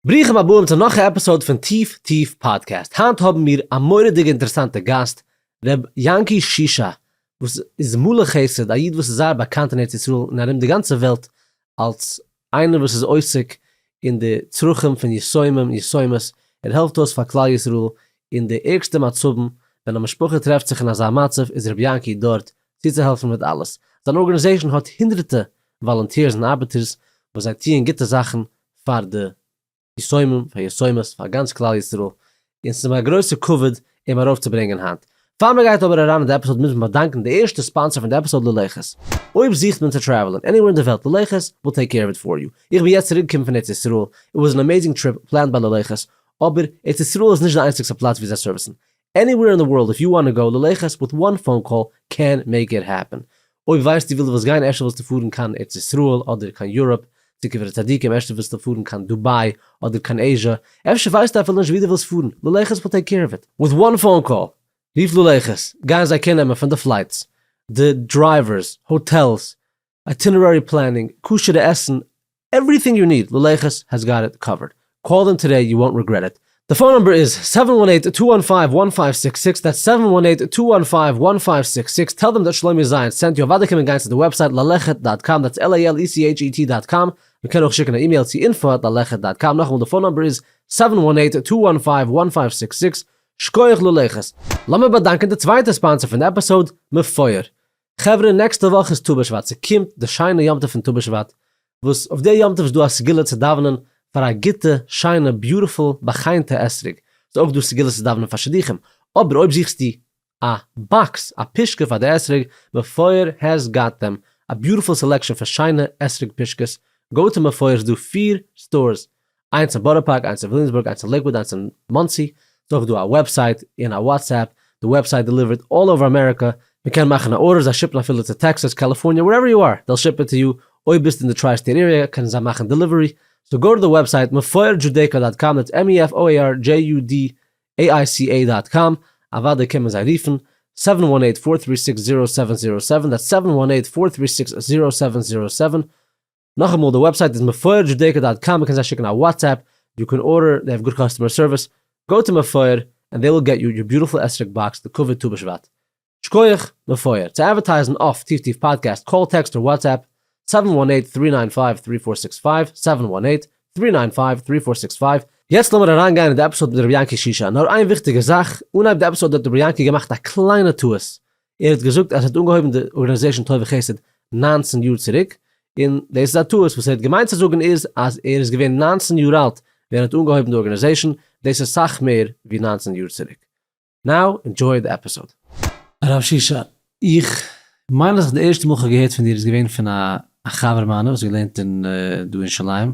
ברוכים הבאים צו נאך א עפיסאוד פון טיף טיף פאדקעסט, היינט האבן מיר א מורא'דיגע אינטערעסאנטע גאסט, ר' יענקי שישא, וואס איז מלא חסד, א איד וואס איז זייער באקאנט אין ארץ ישראל און ארום די גאנצע וועלט אלס איינער וואס איז עוסק אין די צרכים פון יתומים יתומות, ער העלפט אויס פאר כלל ישראל אין די ערגסטע מצבים, ווען א משפחה טרעפט זיך אין אזא מצב איז ר' יענקי דארט צוצוהעלפן מיט אלעס, זיין ארגענעזעישן האט הונדרעטע וואלונטירס און ארבעטערס וואס זיי טוען גוטע זאכן פאר די יסומים פאר יסומות פאר גאנץ כלל ישראל און ס'איז מיר א גרויסע כבוד אים ארויפצוברענגען היינט. פאר מען גייט אבער אריין אין די עפיסאד מוז מען באדאנקען די ערשטע ספאנסער פון די עפיסאד ללכת. אויב זוכט מען צו טרעוולען עניווער אין די וועלט ללכת וויל טעיק קעיר אוו איט פאר יו. איך בין יעצט צוריקגעקומען פון ארץ ישראל, איט וואס ען אמעיזינג טריפ פלענד ביי ללכת, אבער ארץ ישראל איז נישט די איינציגסטע פלאץ ווי זיי סערוויסן, עניוועיר אין די ווארלד איף יו וואנט גאו ללכת וויט וואן פאון קאל קען מעיק איט העפען, אויב ווייסטו וויל די וואס גיין ערשטע ווילסטו פארן קיין ארץ ישראל אדער קיין יוראפ צו קברי צדיקים ערשטע ווילסטו פארן קיין דובאי אדער קיין עיזשא אפשר ווייסטו אפילו נישט ווי די ווילסט פארן ללכת וויל טעיק קעיר אוו איט וויט וואן פאון קאל רוף ללכת גייען זיי קער נעמען פון די פלייטס די דרייווערס האטעלס איטינערערי פלענינג, כשר'ע עסן, עווריטינג יו ניד, ללכת העז גאט איט קאווערד. קאל דעם טודעי יו וואונט ריגרעט איט. די פאון נומבער איז סעווען וואן עיט טו וואן פייוו וואן פייוו סיקס סיקס, דעטס סעווען וואן עיט טו וואן פייוו וואן פייוו סיקס סיקס, טעל דעם דאט שלומי זייענס סענט יו, אוודאי קען מען גיין צו די וועבסייט ללכת דאט קאם, דעטס LALECHET דאט קאם, מען קען אויך שיקן א אימעיל צו אינפא עט ללכת דאט קאם, נאכאמאל די פאון נומבער איז סעווען וואן עיט טו וואן פייוו וואן פייוו סיקס סיקס, שקויעך ללכת. לאמיר באדאנקען די צווייטע ספאנסער פון די עפיסאוד, מפואר. חברה נעקסטע וואך איז טו בשבט, ס'קומט די שיינע יום טוב פון טו בשבט, וואס אויף די יום טוב איז דא א סגולה צו דאווענען פאר א גוטע, שיינע, ביוטיפול, באחיינטע אתרוג, ס'איז אויך דא סגולות צו דאווענען פאר שידוכים, אבער אויב זוכסטו א באקס, א פושקע פאר די אתרוג, מפואר העז גאט דעם, א ביוטיפול סעלעקשאן פון שיינע אתרוג פושקעס, גאו טו מפואר ס'דא פֿיר סטארס, איינס אין בארא פארק, איינס אין וויליאמסבורג, איינס אין לעיקוואד, איינס אין מאנסי, ס'איז אויך דא א וועבסייט און א וואטסעפפ, די וועבסייט דעליווערט אלל אווער אמעריקא, מ'קען מאכן א ארדער זיי שיפן אפילו צו טעקסאס, קאליפארניע, ווערעווער יו אר, דעיל שיפ איט טו יו, אויב ביסטו אין די טריי סטעיט עיריע קענען זיי מאכן דעליווערי, סאו גאו טו די וועבסייט mefoirjudaica דאט קאם, דעטס m-e-f-o-i-r-j-u-d-a-i-c-a דאט קאם, אוודאי קען מען זיי רופן, סעווען וואן עיט פאר טרי סיקס זירא סעווען זירא סעווען, דעטס סעווען וואן עיט פאר טרי סיקס זירא סעווען זירא סעווען, נאכאמאל די וועבסייט איז מפואר דזשודעיקא דאט קאם מ'קען זיי שיקן א וואטסעפפ, יו קען ארדער, דעי האוו גוד קאסטומער סערוויס, גאו טו מפואר ענד דעי וויל געט יו יור ביוטיפול אסרק באקס לכבוד טו בשבט. שקויעך, מפואר. צו אדווערטייזן אויף טיף טיף פאדקעסט קאל טעקסט אר וואטסעפפ, סעווען וואן עיט טרי ניין פייוו טרי פאר סיקס פייוו, סעווען וואן עיט טרי ניין פייוו טרי פאר סיקס פייוו. יעצט לאמיר אריינגיין אין די עפיסאד מיט רבי יענקי שישא, נאר איין וויכטיגע זאך, אנהייב די עפיסאד האט רבי יענקי געמאכט א קליינע טעות, ער האט געזאגט אז ער האט אנגעהויבן די ארגאניזעישן טוב וחסד נײַנצן יאר צוריק, און דאס איז א טעות, וואס ער האט געמיינט צו זאגן איז אז ער איז געווען נײַנצן יאר אלט ווען ער האט אנגעהויבן די ארגאניזעישן, דאס איז סאך מער ווי נײַנצן יאר צוריק. נאו אינדזשוי די עפיסאד. הרב ששון, איך מיין אז איך די ערשטע מאל איך האב געהערט פון דיר איז געווען פון א חבר מיינע וואס האט געלערנט אין דא אין שוליים,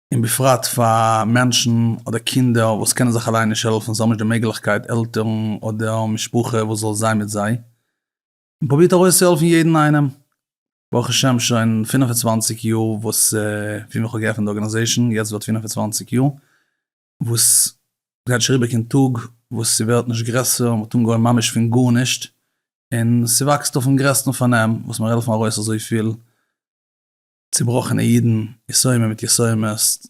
און בפרט פאר מענטשן אדער קינדער וואס קענען זיך אליין נישט העלפן, זיי האבן נישט די מעגליכקייט עלטערן אדער משפחה וואס זאל זיין מיט זיי, און פרובירט ארויסצוהעלפן יעדן איינעם, ברוך השם שוין פֿינף און צוואַנציק יאר וואס פון ווען איך האב געעפנט די ארגענעזעישן, יעצט ווערט פֿינף און צוואַנציק יאר, וואס גייט שוין אריבער קיין טאג וואס ס'ווערט נישט גרעסער, מ'האט אנגעהויבן ממש פון גארנישט, און ס'וואקסט אויפן גרעסטן פארנעם, וואס מיר העלפן ארויס אזויפיל. צובראכענע אידן, יסורים מיט יסורים'סט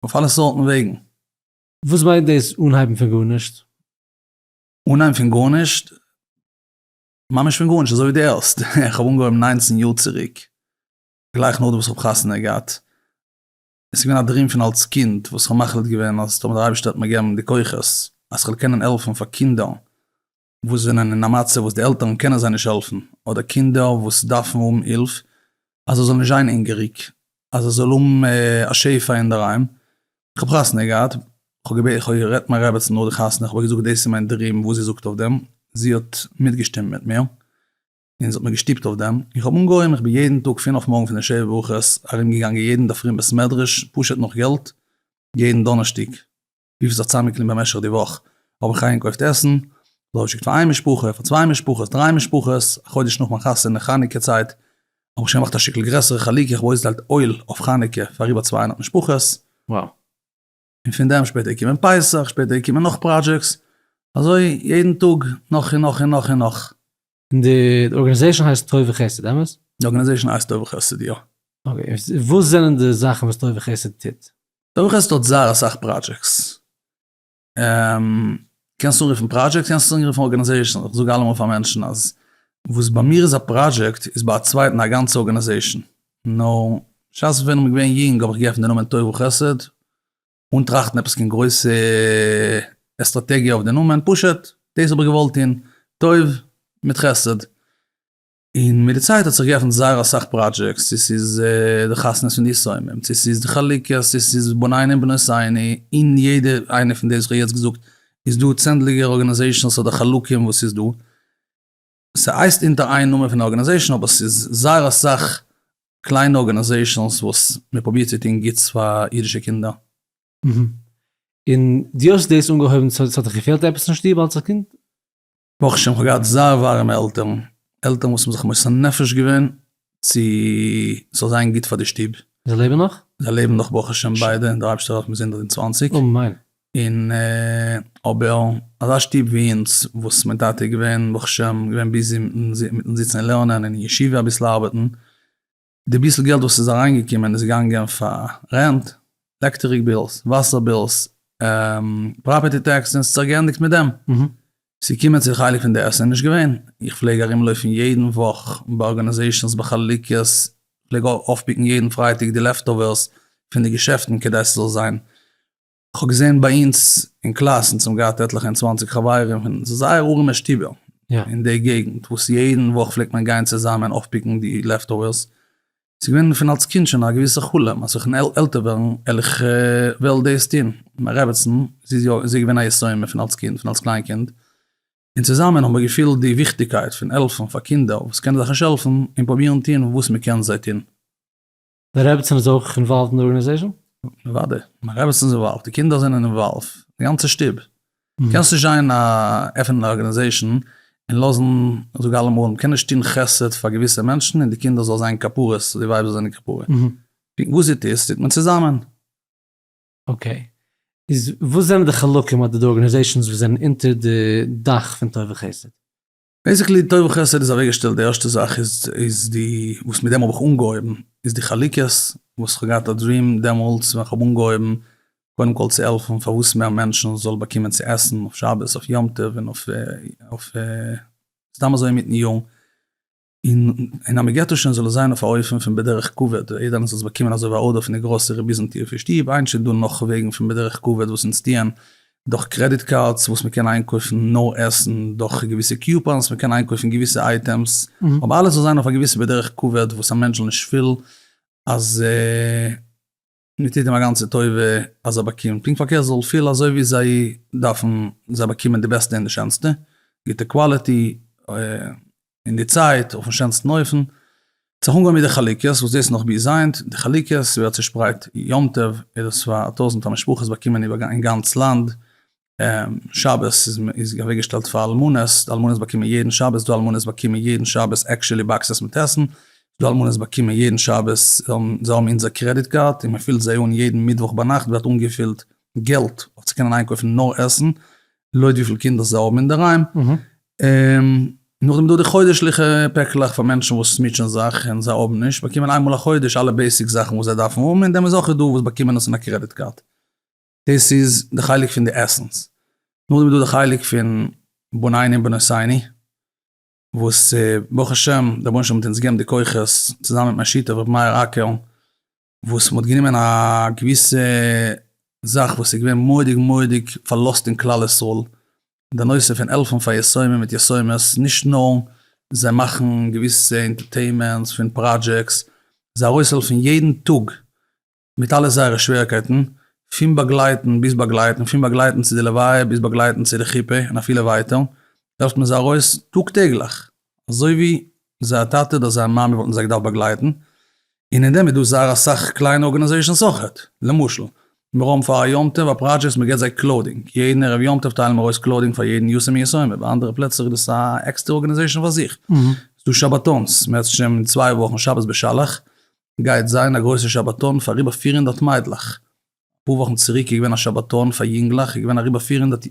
אויף אלע סארטן וועגן. וואס מיינט דאס אנהייבן פון גארנישט? אנהייבן פון גארנישט? ממש פון גארנישט, אזוי ווי דו הערסט, איך האב אנגעהויבן ניינצן יאר צוריק, גלייך נאכדעם וואס איך האב חתונה געהאט, עס איז געווען א דרים פון אלס קינד וואס איך האב מחליט געווען אז טאמער דער אייבערשטער וועט מיר געבן די כוחות אז כ'וועל קענען העלפן פאר קינדער וואס זענען אין א מצב וואס די עלטערן קענען זיי נישט העלפן, אדער קינדער וואס דארפן האבן הילף אז ער זאל נישט זיין הונגעריג, אז ער זאל האבן א שפע אינדערהיים. איך האב חתונה געהאט, איך האב גערעדט מיין רעבעצן נאך די חתונה, איך האב איר געזאגט דאס איז מיין דריעם וואס זי זאגט אויף דעם, זי האט מיטגעשטימט מיט מיר, און זי האט מיר געשטופט אויף דעם, איך האב אנגעהויבן, איך בין יעדן טאג פון אויף מארגן פון די שבע ברכות ארומגעגאנגען יעדן אינדערפרי אין בית מדרש פשוט נאך געלט, יעדן דאנערשטאג. וויפיל ס'האט צוזאמגעקליבן במשך די וואך, האב איך איינגעקויפט עסן, זאל געשיקט פאר איין משפחה, פאר צוויי משפחות, דריי משפחות, א חודש נאך מיין חתונה, חנוכה צייט, האב איך שוין געמאכט א שטיקל גרעסערע חלוקה, איך האב אויסגעטיילט אויל אויף חנוכה פאר איבער צוויי הונדערט משפחות. Wow. און פון דעם שפעטער געקומען פסח, שפעטער געקומען נאך פראדזשעקס, אזוי יעדן טאג נאך און נאך און נאך און נאך. און די ארגענעזעישן הייסט טוב וחסד, אמת? די ארגענעזעישן הייסט טוב וחסד, יא. אקעי, וואס זענען די זאכן וואס טוב וחסד טוט? טוב וחסד האט זייער אסאך פראדזשעקס. קענסט עס אנרופן פראדזשעקט קענסט עס אנרופן ארגענעזעישן, איך זאג אלעמאל פאר מענטשן אז וואס ביי מיר איז א פראדזשעקט איז ביי א צווייטן א גאנצע ארגענעזעישן. נו, בשעת איך בין געווען יונג האב איך געפענט די נאמען טוב וחסד, אן טראכטן עפעס קיין גרויסע עסטראטעגיע אויף די נאמען, פשוט דאס האב איך געוואלט טון, טוב מיט חסד. און מיט די צייט האט זיך געעפנט זייער אסאך פראדזשעקטס, צו ס'איז די חתונות פון די שמים, צו ס'איז די חלוקות, צו ס'איז בניני בנותיני, אין יעדע איינע פון די וואס איך האב יעצט געזאגט איז דא צענדליגער ארגאניזעישאנס אדער חלקים וואס איז דא, ס'הייסט אונטער איין נאמען פון ארגענעזעישאן אבער ס'איז זייער אסאך קליינע ארגענעזעישאנס וואס מען פרובירט צו טון גוטס פאר אידישע קינדער. און דו האסט דאס אנגעהויבן צו ס'האט דיך געפעלט עפעס אין שטוב אלץ א קינד? ברוך השם כ'האב געהאט זייער ווארימע עלטערן, עלטערן וואס האבן זיך מוסר נפש געווען צו ס'זאל זיין גוט פאר די שטוב. זיי לעבן נאך? זיי לעבן נאך ברוך השם ביידע, דער אייבערשטער האט מיר זינט די צוואנציג. אמן. און אבער אזא שטוב ווי אונז וואס מיין טאטע איז געווען ברוך השם געווען ביזי מיטן זיצן און לערנען און אין ישיבה אביסל ארבעטן, די ביסל געלט וואס איז אריינגעקומען איז געגאנגען פאר רענט, עלעקטעריק בילס, וואסער בילס, פראפערטי טעקסעס, ס'האט זיך געענדיגט מיט דעם. ס'קומען צו די חלק פון די עסן איז נישט געווען, איך פלעג ארום לויפן יעדן וואך ביי ארגאניזעישאנס ביי חלוקות, פלעג אויפפיקן יעדן פרייטאג די לעפטאווערס פון די געשעפטן כדי ס'זאל זיין, כ'האב געזען ביי אונז אין קלאס אונז האבן געהאט עטליכע און צוואנציג חברים פון זייער ארעמע שטובער אין די געגנט וואס יעדן וואך פלעגט מען גיין צוזאמען אויפפיקן די לעפטאווערס, ס'איז געווען פון אלס קינד שוין א געוויסע חלום אז ווען כ'וועל עלטער ווערן וועל איך וועל דאס טון, מיין רעבעצן זי איז יא זי איז געווען א יסוד אין מיר פון אלס קינד פון אלס קליין קינד, און צוזאמען האבן מיר געפילט די וויכטיגקייט פון העלפן פאר קינדער וואס קענען זיך נישט העלפן און פרובירן טון וואס מען קען זיי טון. די רעבעצן איז אויך אינוואלווד אין די ארגענעזעישאן? אוודאי, מיין רעבעצן איז אינוואלווד, די קינדער זענען אינוואלווד, די גאנצע שטוב. קענסט נישט זיין א עפענען א ארגענעזעישן און לאזן זאג אלעמאל מ'קען נישט טון חסד פאר געוויסע מענטשן און די קינדער זאל זיין כפרות די ווייב זאל זיין כפרה וואס זי טוט טוט מען צוזאמען. אקעי, איז וואס זענען די חלקים אדער די ארגענעזעישאנס וואס זענען אונטער די דאך פון טוב וחסד? בעיסיקלי טוב וחסד איז אוועק געשטעלט די ערשטע זאך איז איז די וואס מיט דעם האב איך אנגעהויבן איז די חלוקות וואס איך האב געהאט א דריעם דעמאלטס ווען איך האב אנגעהויבן קודם כל צו העלפן פארוואס מער מענטשן זאל באקומען צו עסן אויף שבת אויף יום טוב און אויף סתם אזוי אינמיטן יאר און און אז מען געט עס שוין זאל עס זיין אויף א אופן פון בדרך כבוד און יעדער איינער זאל עס באקומען אזוי ווי א ארדער פון די גראסערי ביזן טיר פון שטוב היינט איז דא נאך וועגן פון בדרך כבוד וואס אונז טוען דורך קרעדיט קארדס וואס מען קען איינקויפן נאר עסן, דורך געוויסע קיופאנס מען קען איינקויפן געוויסע אייטעמס, אבער אלעס זאל זיין אויף א געוויסע בדרך כבוד וואס א מענטש זאל נישט פילן אז מען טוט אים א גאנצע טובה אז ער באקומט, פונקט פארקערט ער זאל פילן אזוי ווי זיי דארפן, זיי באקומען די בעסטע און די שענסטע, גוטע קוואליטי. אין די צייט אויפן שענסטן אופן, האט זיך אנגעהויבן מיט די חלוקות וואס דאס איז נאך ביז היינט, די חלוקות ווערט צושפרייט יום טוב איז עס פאר א טויזענטער משפחות באקומען איבער אין גאנץ לאנד, שבת איז אוועקגעשטעלט פאר אלמנות, די אלמנות באקומען יעדן שבת, ס'דא אלמנות באקומען יעדן שבת עקשעלי באקסעס מיט עסן, ס'דא אלמנות באקומען יעדן שבת, זיי האבן אונזער קרעדיט קארד און מען פילט זיי אן יעדן מיטוואך ביינאכט ווערט אנגעפילט געלט אויף צו קענען איינקויפן נאר עסן, לויט וויפיל קינדער זיי האבן אינדערהיים. נאכדעם איז דא די חודש'ליכע פעקלעך פאר מענטשן וואס מוטשען זיך און זיי האבן נישט, באקומען איין מאל א חודש אלע בעיסיק זאכן וואס זיי דארפן האבן, און דעמאלס אויך איז דא וואס באקומען עס אין א קרעדיט קארד. דאס איז די חלק פון די עסנס. נאכדעם איז דא די חלק פון בנין און בנותיני, וואס ברוך השם דער רבונו של עולם האט אונז געגעבן די כוחות, צוזאמען מיט מיין שותף ר' מאיר אקערן, וואס מ'האט גענומען א געוויסע זאך וואס איז געווען מורא'דיג מורא'דיג פארלאזט אין כלל ישראל, די נושא פון העלפן פאר יתומים מיט יתומות, נישט נאר זיי מאכן געוויסע אינטערטעימענטס פון פראדזשעקס, זיי ארויסהעלפן יעדן טאג מיט אלע זייערע שוועריקייטן, פון באגלייטן ביז באגלייטן, פון באגלייטן צו די לוויה ביז באגלייטן צו די חופה און אפילו ווייטער, העלפט מען זיי ארויס טאג טעגליך. אזוי ווי זייער טאטע אדער זייער מאמע וואלטן זיי געדארפט באגלייטן, און אין דעם איז דא זייער אסאך קליינע ארגענעזעישאנס אויכעט, למשל, מיר האבן פאר א יום טוב א פראדזשעקט וואס מען געבט זיי קלאודינג, יעדן ערב יום טוב טיילן מיר אויס קלאודינג פאר יעדן יתום און יתומה, ביי אנדערע פלעצער איז דאס א עקסטער ארגענעזעישאן פאר זיך, ס'איז דא שבתון'ס, מערסטנס שוין אין צוויי וואכן שבת בשלח גייט זיין א גרויסע שבתון פאר אריבער פֿיר הונדערט מיידלעך, אפאר וואכן צוריק איז געווען א שבתון פאר יונגלעך איז געווען אריבער פֿיר הונדערט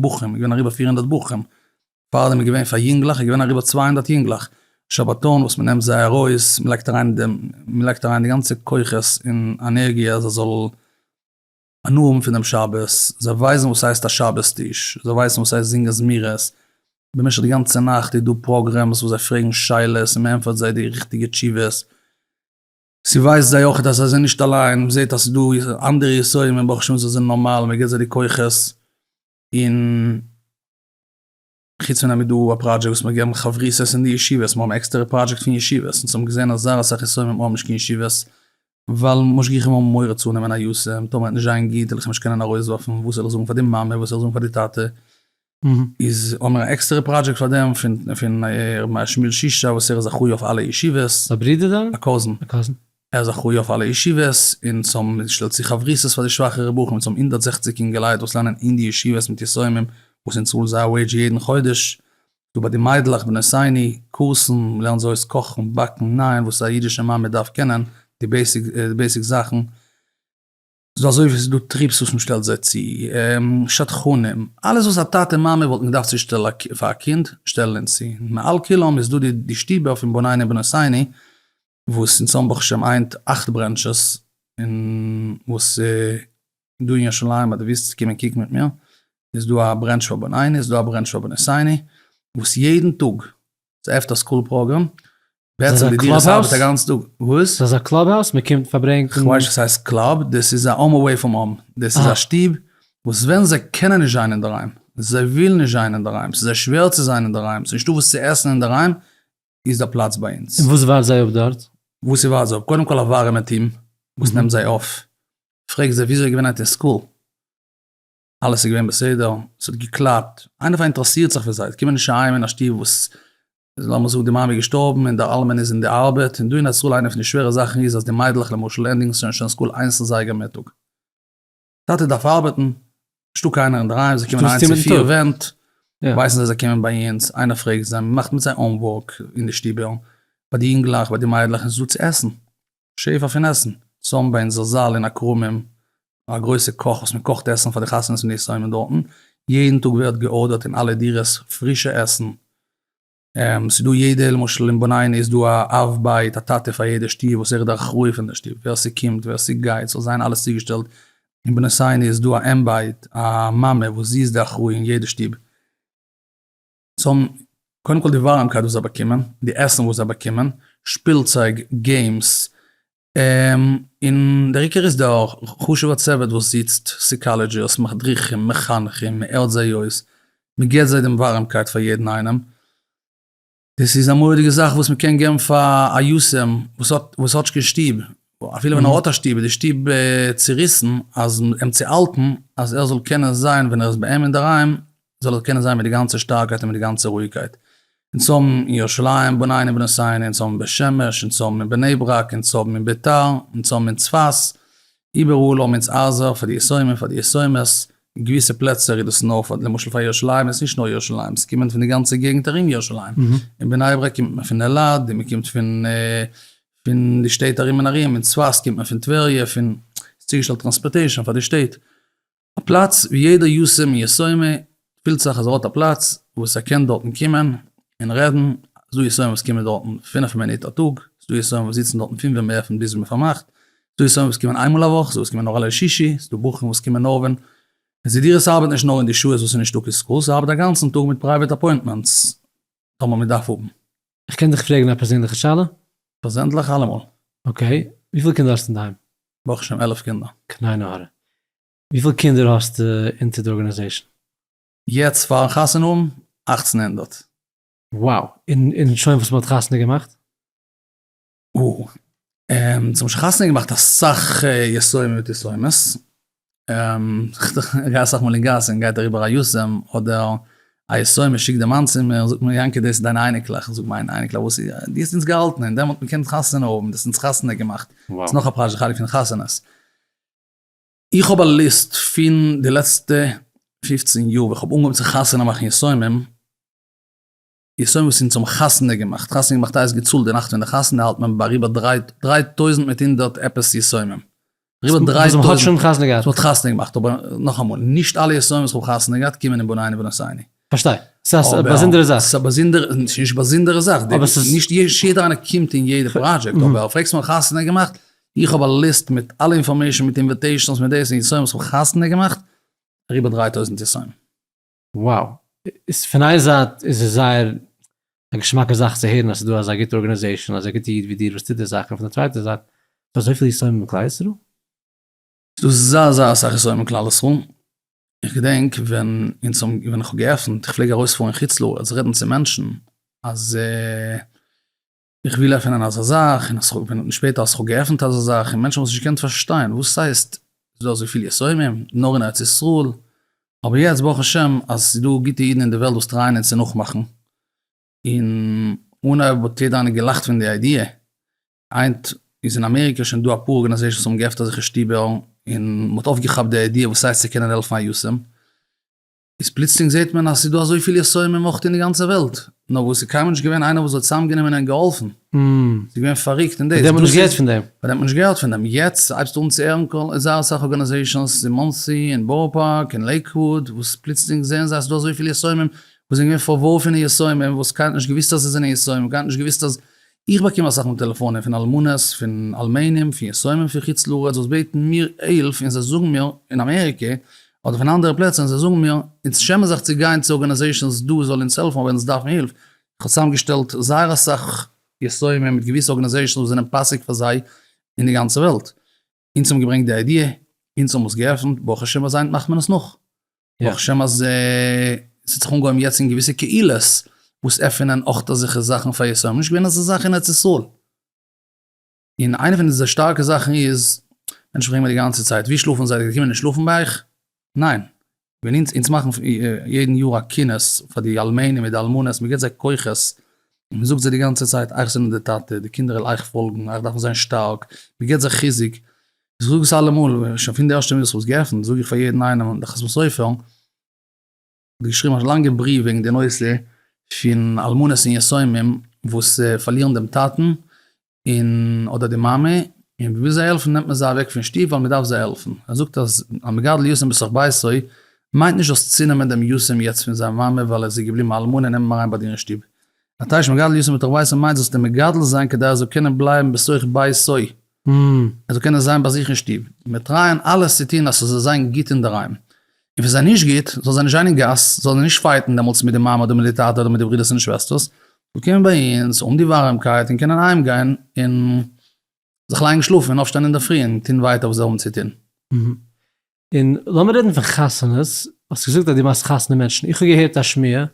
בחורים איז געווען אריבער פֿיר הונדערט בחורים, פאר דעם איז געווען פאר יונגלעך איז געווען אריבער צוויי הונדערט יונגלעך שבתון וואס מ'נעמט זיי ארויס מ'לייגט אריין דעם מ'לייגט אריין די גאנצע כוחות און ענערגיע אז זיי זאלן הנאה האבן פון דעם שבת, זיי ווייסן וואס הייסט א שבת טיש, זיי ווייסן וואס הייסט זינגען זמירות, במשך די גאנצע נאכט איז דא פראגרעמס וואס זיי פרעגן שאלות און מ'ענטפערט זיי די ריכטיגע תשובות, ס'ווייזט זיי אויכעט אז זיי זענען נישט אליין, מ'זעט אז ס'דא אנדערע יסורים און ברוך השם זיי זענען נארמאל, מ'געט זיי די כוחות און. חוץ פון דעם איז דא א פראדזשעקט וואס מ'האט געגעבן חברותות אין די ישיבות, מ'האבן עקסטערע פראדזשעקט פון ישיבות, און ס'האבן געזען אז זייער אסאך יסורים האבן נישט קיין ישיבות, ווייל משגיחים האבן מורא צו נעמען א יסורים, טאמער וועט נישט זיין גוט וועל איך נישט קענען ארויסווארפן, וואס זאל איך זאגן פאר די מאמע, וואס זאל איך זאגן פאר די טאטע, איז האבן מיר א עקסטערע פראדזשעקט פאר דעם, פון ר' מאיר שמואל שישא וואס ער איז אחראי אויף אלע ישיבות. א ברודער דיין? א קאזין. א קאזין. ער איז אחראי אויף אלע ישיבות און צום שטעלט צו חברותות פאר די שוואכע רבחים צום הונדערט זעכציק אינגעלייט וואס לערנען אין די ישיבות מיט יסומים וואס אין צאל זייער וועידזש יעדן חודש דא ביי די מיידלעך בנות עיני קורסן לערנט זי אויס קאכן באקן נייען וואס א אידישע מאמע דארף קענען די בעיסיק זאכן ס'דא אזוי ווי ס'דא טריפס וואס מ'שטעלט זיי צו שדכנים אלעס וואס א טאטע מאמע וואלטן געדארפט צו שטעלן פאר א קינד שטעלן אונז צו מעל כולם איז דא די שטיבער פון בנינו בנות עיני וואס אין צאנז ברוך השם איינט אכט ברענטשעס, און וואס דא אין ירושלים ביי די וויסטע קומען קוקן מיט מיר, איז דא א ברענטש פאר בניני איז דא א ברענטש פאר בני סייני, וואס יעדן טאג ס'עפט א סקול פראגרעם, בעצם די דירות ארבעט א גאנצן טאג, וואס? ס'איז אזא קלאב האוז מען קומט פארברענגט? כ'ווייס נישט צו ס'הייסט קלאב, דאס איז א האום אוועי פראם האום, דאס איז א שטוב וואס ווען זיי קענען נישט זיין אינדערהיים, זיי ווילן נישט זיין אינדערהיים, ס'איז זיי שווער צו זיין אינדערהיים, ס'איז נישטא וואס צו עסן אינדערהיים, איז דא פלאץ ביי אונז. און וואס ווארט זיי אפ דארט? וואס איז ווארט זיי אפ? קודם כל א ווארעמע טיעם וואס נעמט זיי אויף, פרעג זיי וויאזוי איז געווען היינט אין סקול, אלעס איז געווען בסדר, עס האט געקלאפט, איינער פאראינטערעסירט זיך פון זיי, עס קומען נישט אהיים אין א שטוב וואס לאמיר זאגן די מאמע איז געשטארבן און דער אלמן איז אין די ארבעט, און דא אין ישראל איינע פון די שווערע זאכן איז אז די מיידלעך למשל ענדיגן שוין סקול איינס אין זייגער מיטאג. טאטע דארף ארבעטן, נישטא קיינער אינדערהיים, זיי קומען איין צו פיר ווענט, ווייסן זיי זיי קומען ביי אונז, איינער פרעגט זיי, מ'מאכט מיט זיי אנווארק אין די שטיבעל, ביי די יונגלעך, ביי די מיידלעך, און ס'איז דא צו עסן, שפע פון עסן, צאם ביי אונזער זאל אין הכרמים, א גרויסע קאך וואס מ'קאכט עסן פאר די חתונות און די סיומים דארטן, יעדן טאג ווערט געארדערט אין אלע דירות פרישע עסן. ס'איז דא יעדע למשל אין בנינה איז דא א אב בית א טאטע פאר יעדע שטוב וואס ער איז די אחראי פון די שטוב ווער ס'קומט ווער ס'גייט ס'זאל זיין אלעס צוגעשטעלט, אין בנותינו איז דא א אם בית א מאמע וואס זי איז די אחראי אין יעדע שטוב, זיי האבן קודם כל די ווארעמקייט וואס זיי באקומען, די עסן וואס זיי באקומען, שפילצייג, געימס, און דער עיקר איז דער חשוב'ער צוות וואס זיצט, סיקאלעדזשערס, מדריכים, מחנכים, מען ער'ט זיי אויס, מען געבט זיי דעם ווארעמקייט פאר יעדן איינעם, דאס איז א מורא'דיגע זאך וואס מען קען געבן פאר א יתום וואס האט וואס האט נישט קיין שטוב, אפילו ווען ער האט א שטוב איז די שטוב צוריסן, אז אים צו האלטן אז ער זאל קענען זיין ווען ער איז ביי אים אינדערהיים זאל איך קענען זיין מיט די גאנצע שטארקייט און מיט די גאנצע רואיגקייט אונז האבן אין ירושלים בנינו בנשינו אונז האבן אין בית שמש אונז האבן אין בני ברק אונז האבן אין ביתר אונז האבן אין צפת איבעראל האבן אונז ארזא פאר די יסורים און פאר די יסומות אין געוויסע פלעצער איז דאס נאר פאר למשל פאר ירושלים איז נישט נאר ירושלים עס קומען פון די גאנצע געגנט ארום ירושלים אין בני ברק קומט מען פון אלעד און מען קומט פון פון די שטעט ארום און ארום אין צפת קומט מען פון טבריה פון ס'איז צוגעשטעלט טראנספארטעישאן פאר די שטעט. א פלאץ ווי יעדער יסע מיסוימי פילט זיך אז ער האט א פלאץ וואס ער קען דארטן קומען און רעדן, ס'דא יסוימי וואס קומען דארטן פֿינף מינוט א טאג, ס'דא יסוימי וואס זיצן דארטן פון ווען מ'עפנט ביז מען פארמאכט, ס'דא יסוימי וואס קומען איינמאל א וואך, ס'דא וואס קומען נאר אלע שישי, ס'דא בחורים וואס קומען נאר ווען עס איז דיר, עס ארבעט נישט נאר אין די שעות וואס איז נישטא קיין סקול, ס'ארבעט אגאנצן טאג מיט פרייוועט אפוינטמענטס. טאמער מען דארף האבן. איך קען דיך פרעגן א פערזענליכע שאלה? פערזענליך אלעמאל. אקעי, וויפיל קינדער האסטו אינדערהיים? ברוך השם עלף קינדער. קליינע הארע. וויפיל קינדער האסטו אונטער די ארגענעזעישן? יעצט פארן חתונה האבן, אַכצן הונדערט. וואו! און שוין וואס מען האט חתונה געמאכט? און ס'האבן שוין חתונה געמאכט אסאך יסורים ותסומות, כ'גיי אסאך מאל אין גאס און גייט אריבער א יסורים אדער א יסורים און שיקט די מאן צו מיר זאגט מיר יענקי דאס איז דיינע אייניקלעך, כ'זאג מיינע אייניקלעך וואס איז די האסט אונז געהאלטן און דעמאלט מיר קענען חתונה האבן די האסט אונז חתונה געמאכט, ס'איז נאך א פרשה חלק פון חתונות. איך האב א ליסט פון די לעצטע פופצן יאר ווען כ'האב אנגעהויבן צו חתונה מאכן יסורים, איך זען וואס אונז האבן חתונה געמאכט, חתונה געמאכט הייסט געצאלט די נאכט פון די חתונה האלט מען ביי אריבער דריי טויזנט מיט הונדערט עפעס יסומים, אריבער דריי טויזנט, וואס מען האט שוין חתונה געהאט, וואס מען האט חתונה געמאכט, אבער נאכאמאל, נישט אלע יסומים וואס איך האב חתונה געהאט קומען אין בניני בנות עיני. פארשטיי, ס'איז א באזונדערע זאך. ס'איז א באזונדערע, ס'איז נישט באזונדערע זאך, נישט יעדער איינער קומט אין יעדע פראדזשעקט, אבער פרעגסט מיך האב איך חתונה געמאכט, איך האב א ליסט מיט אלע אינפארמעישן מיט אינוועטעישנס מיט דאס און יסומים וואס איך האב חתונה געמאכט, אריבער דריי טויזנט יסומים. וואו! איז פון איין זייט איז עס זייער א געשמאקע זאך צו הערן אז ס'איז דא אזא גוטע ארגענעזעישאן, אזא גוטע איד ווי דיר וואס טוט די זאך, און פון די צווייטע זייט ס'דא אזויפיל יסורים אין כלל ישראל? ס'דא זייער זייער אסאך יסורים אין כלל ישראל, איך געדענק ווען אונז האבן ווען איך האב געעפנט, איך פלעג ארויספארן חוץ לארץ רעדן צו מענטשן אז. איך וויל עפענען אזא זאך, און איך בין נאכנישט שפעט אז איך האב געעפנט אזא זאך, און מענטשן האבן עס נישט געקענט פארשטיין, וואס הייסט ס'איז דא אזויפיל יסורים נאר אין ארץ ישראל, אבער יעצט ברוך השם אז ס'איז דא גוטע אידן אין די וועלט וואס טרייען אונז צו נאכמאכן, און אנהייב האט יעדער איינער געלאכט פון די איידיע, היינט איז אין אמעריקע שוין דא אפאר ארגאניזעישאנס וואס האבן געעפנט אזעלכע שטובער, און מ'האט אויפגעכאפט די איידיע וואס הייסט צו קענען העלפן א יתום. איז פלוצלינג זעט מען אז ס'איז דא אזויפיל יסורים און מוחטין אין די גאנצע וועלט, נאר וואס ס'איז קיינמאל נישט געווען איינער וואס האט צוזאמגענומען און געהאלפן, ס'איז געווען פאריקט און דאס איז, ביי דעם האט מען נישט געהערט פון דעם, יעצט הייבסטו אן צו הערן קול איז זייער אסאך ארגאנאזעישאנס אין מאנסי און בארא פארק און לעיקוואוד וואס פלוצלינג זעען זיי אז ס'איז דא אזויפיל יסורים וואס זענען געווען פארווארפענע יסורים וואס קיינער האט נישט געוואוסט אז זיי זענען יסורים קיינער האט נישט געוואוסט אז איך באקום אסאך מאל טעלעפאנען פון אלמנות, פון אלמנים, פון יתומים פון חוץ לארץ וואס בעטן מיר הילף און זיי זאגן מיר, אין אמעריקע אדער פון אנדערע פלעצער און זיי זאגן מיר, אונז שעמען זיך צו גיין צו ארגאניזעישאנס דא זאל אונז העלפן אויב אונז דארפן הילף, איך האב צוזאמגעשטעלט זייער אסאך יתומים מיט געוויסע ארגאניזעישאנס וואס זענען פאסיג פאר זיי אין די גאנצע וועלט, אונז האבן געברענגט די איידיע, אונז האבן עס געעפנט, ברוך השם אזיינס מאכט מען עס נאך. ברוך השם אז עס האט זיך אנגעהויבן יעצט אין געוויסע קהילות וואס עפענען אויך אזעלכע זאכן פאר ישראלים, נישט געווען אזא זאך אין ארץ ישראל. און איינע פון די שטארקע זאכן איז, מענטשן פרעגן מיר די גאנצע צייט, ווי שלאפן זיי, זיי קומען נישט שלאפן ביי אייך? ניין, ווען אונז אונז מאכן יעדן יאר א כינוס פאר די אלמנים מיט די אלמנות, מען גיבט זיי כוחות, מען זאגט זיי די גאנצע צייט אייך זענט די טאטע, די קינדער וועלן אייך פאלגן, אייך דארפן זיין שטארק, מען גיבט זיי חיזוק, איך זאג עס אלעמאל, שוין פון די ערשטע מינוט איך האב עס געעפנט זאג איך פאר יעדן איינעם, דאך עס מוז אויפהערן. געשריבן א לאנגע בריוו וועגן די נושא פון אלמנות און יתומים וואס פארלירן דעם טאטן און אדער די מאמע און מ'וויל זיי העלפן נעמט מען זיי אוועק פון שטוב ווייל מ'דארף זיי העלפן. ער זאגט אז המגדל יתום בתוך ביתו מיינט נישט דאס צונעמען דעם יתום יעצט פון זיין מאמע ווייל ער איז געבליבן א אלמנה און נעם אים אריין ביי דיר אין שטוב. א טייטש מגדל יתום בתוך ביתו מיינט זאלסט אים מגדל זיין כדי ער זאל קענען בלייבן בתוך ביתו, ער זאל קענען זיין ביי זיך אין שטוב, מיר טרייען אלעס צו טון אז ס'זאל זיין גוט אינדערהיים, און ווען זיי נישט גוט, זאלן זיי נישט גיין אין גאס, זאלן זיי נישט פייטן דעמאלטס מיט די מאמע אדער מיט די טאטע אדער מיט די ברודערס און שוועסטערס, זאלן קומען ביי אונז, האבן די ווארעמקייט און קענען אהיימגיין און זיך לייגן שלאפן און אויפשטיין אינדערפרי און טון ווייטער וואס זיי האבן צו טון. און לאמיר רעדן פון חתונות, האסט געזאגט אז דו מאכסט חתונה מענטשן, איך האב געהערט א שמועה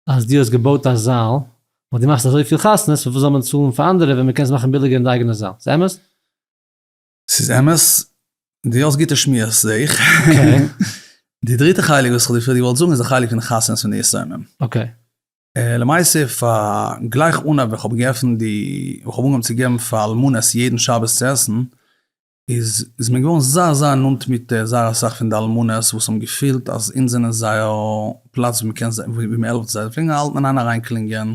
אז דו האסט געבויט א זאל, ווייל דו מאכסט אזויפיל חתונות, פארוואס זאל מען צאלן פאר אנדערע ווען מען קען עס מאכן ביליגער אין די אייגענע זאל, איז אמת? ס'איז אמת, דו האסט גוטע שמועות זעה איך. די דריטע חלק וואס איך געוואלט זאגן איז די חלק פון די חתונות פון די יתומים. אקעי. למעשה פאר גלייך אנהייב ווען איך האב געעפנט די, ווען איך האב אנגעהויבן צו געבן פאר אלמנות יעדן שבת צו עסן, איז איז מען געווארן זייער זייער נאנט מיט זייער אסאך פון די אלמנות וואס האבן געפילט אז אונז זענען זייער פלאץ ווי מען קען זיי ווי מען העלפט זיי, זיי פלעגן אלץ אריין קלינגען,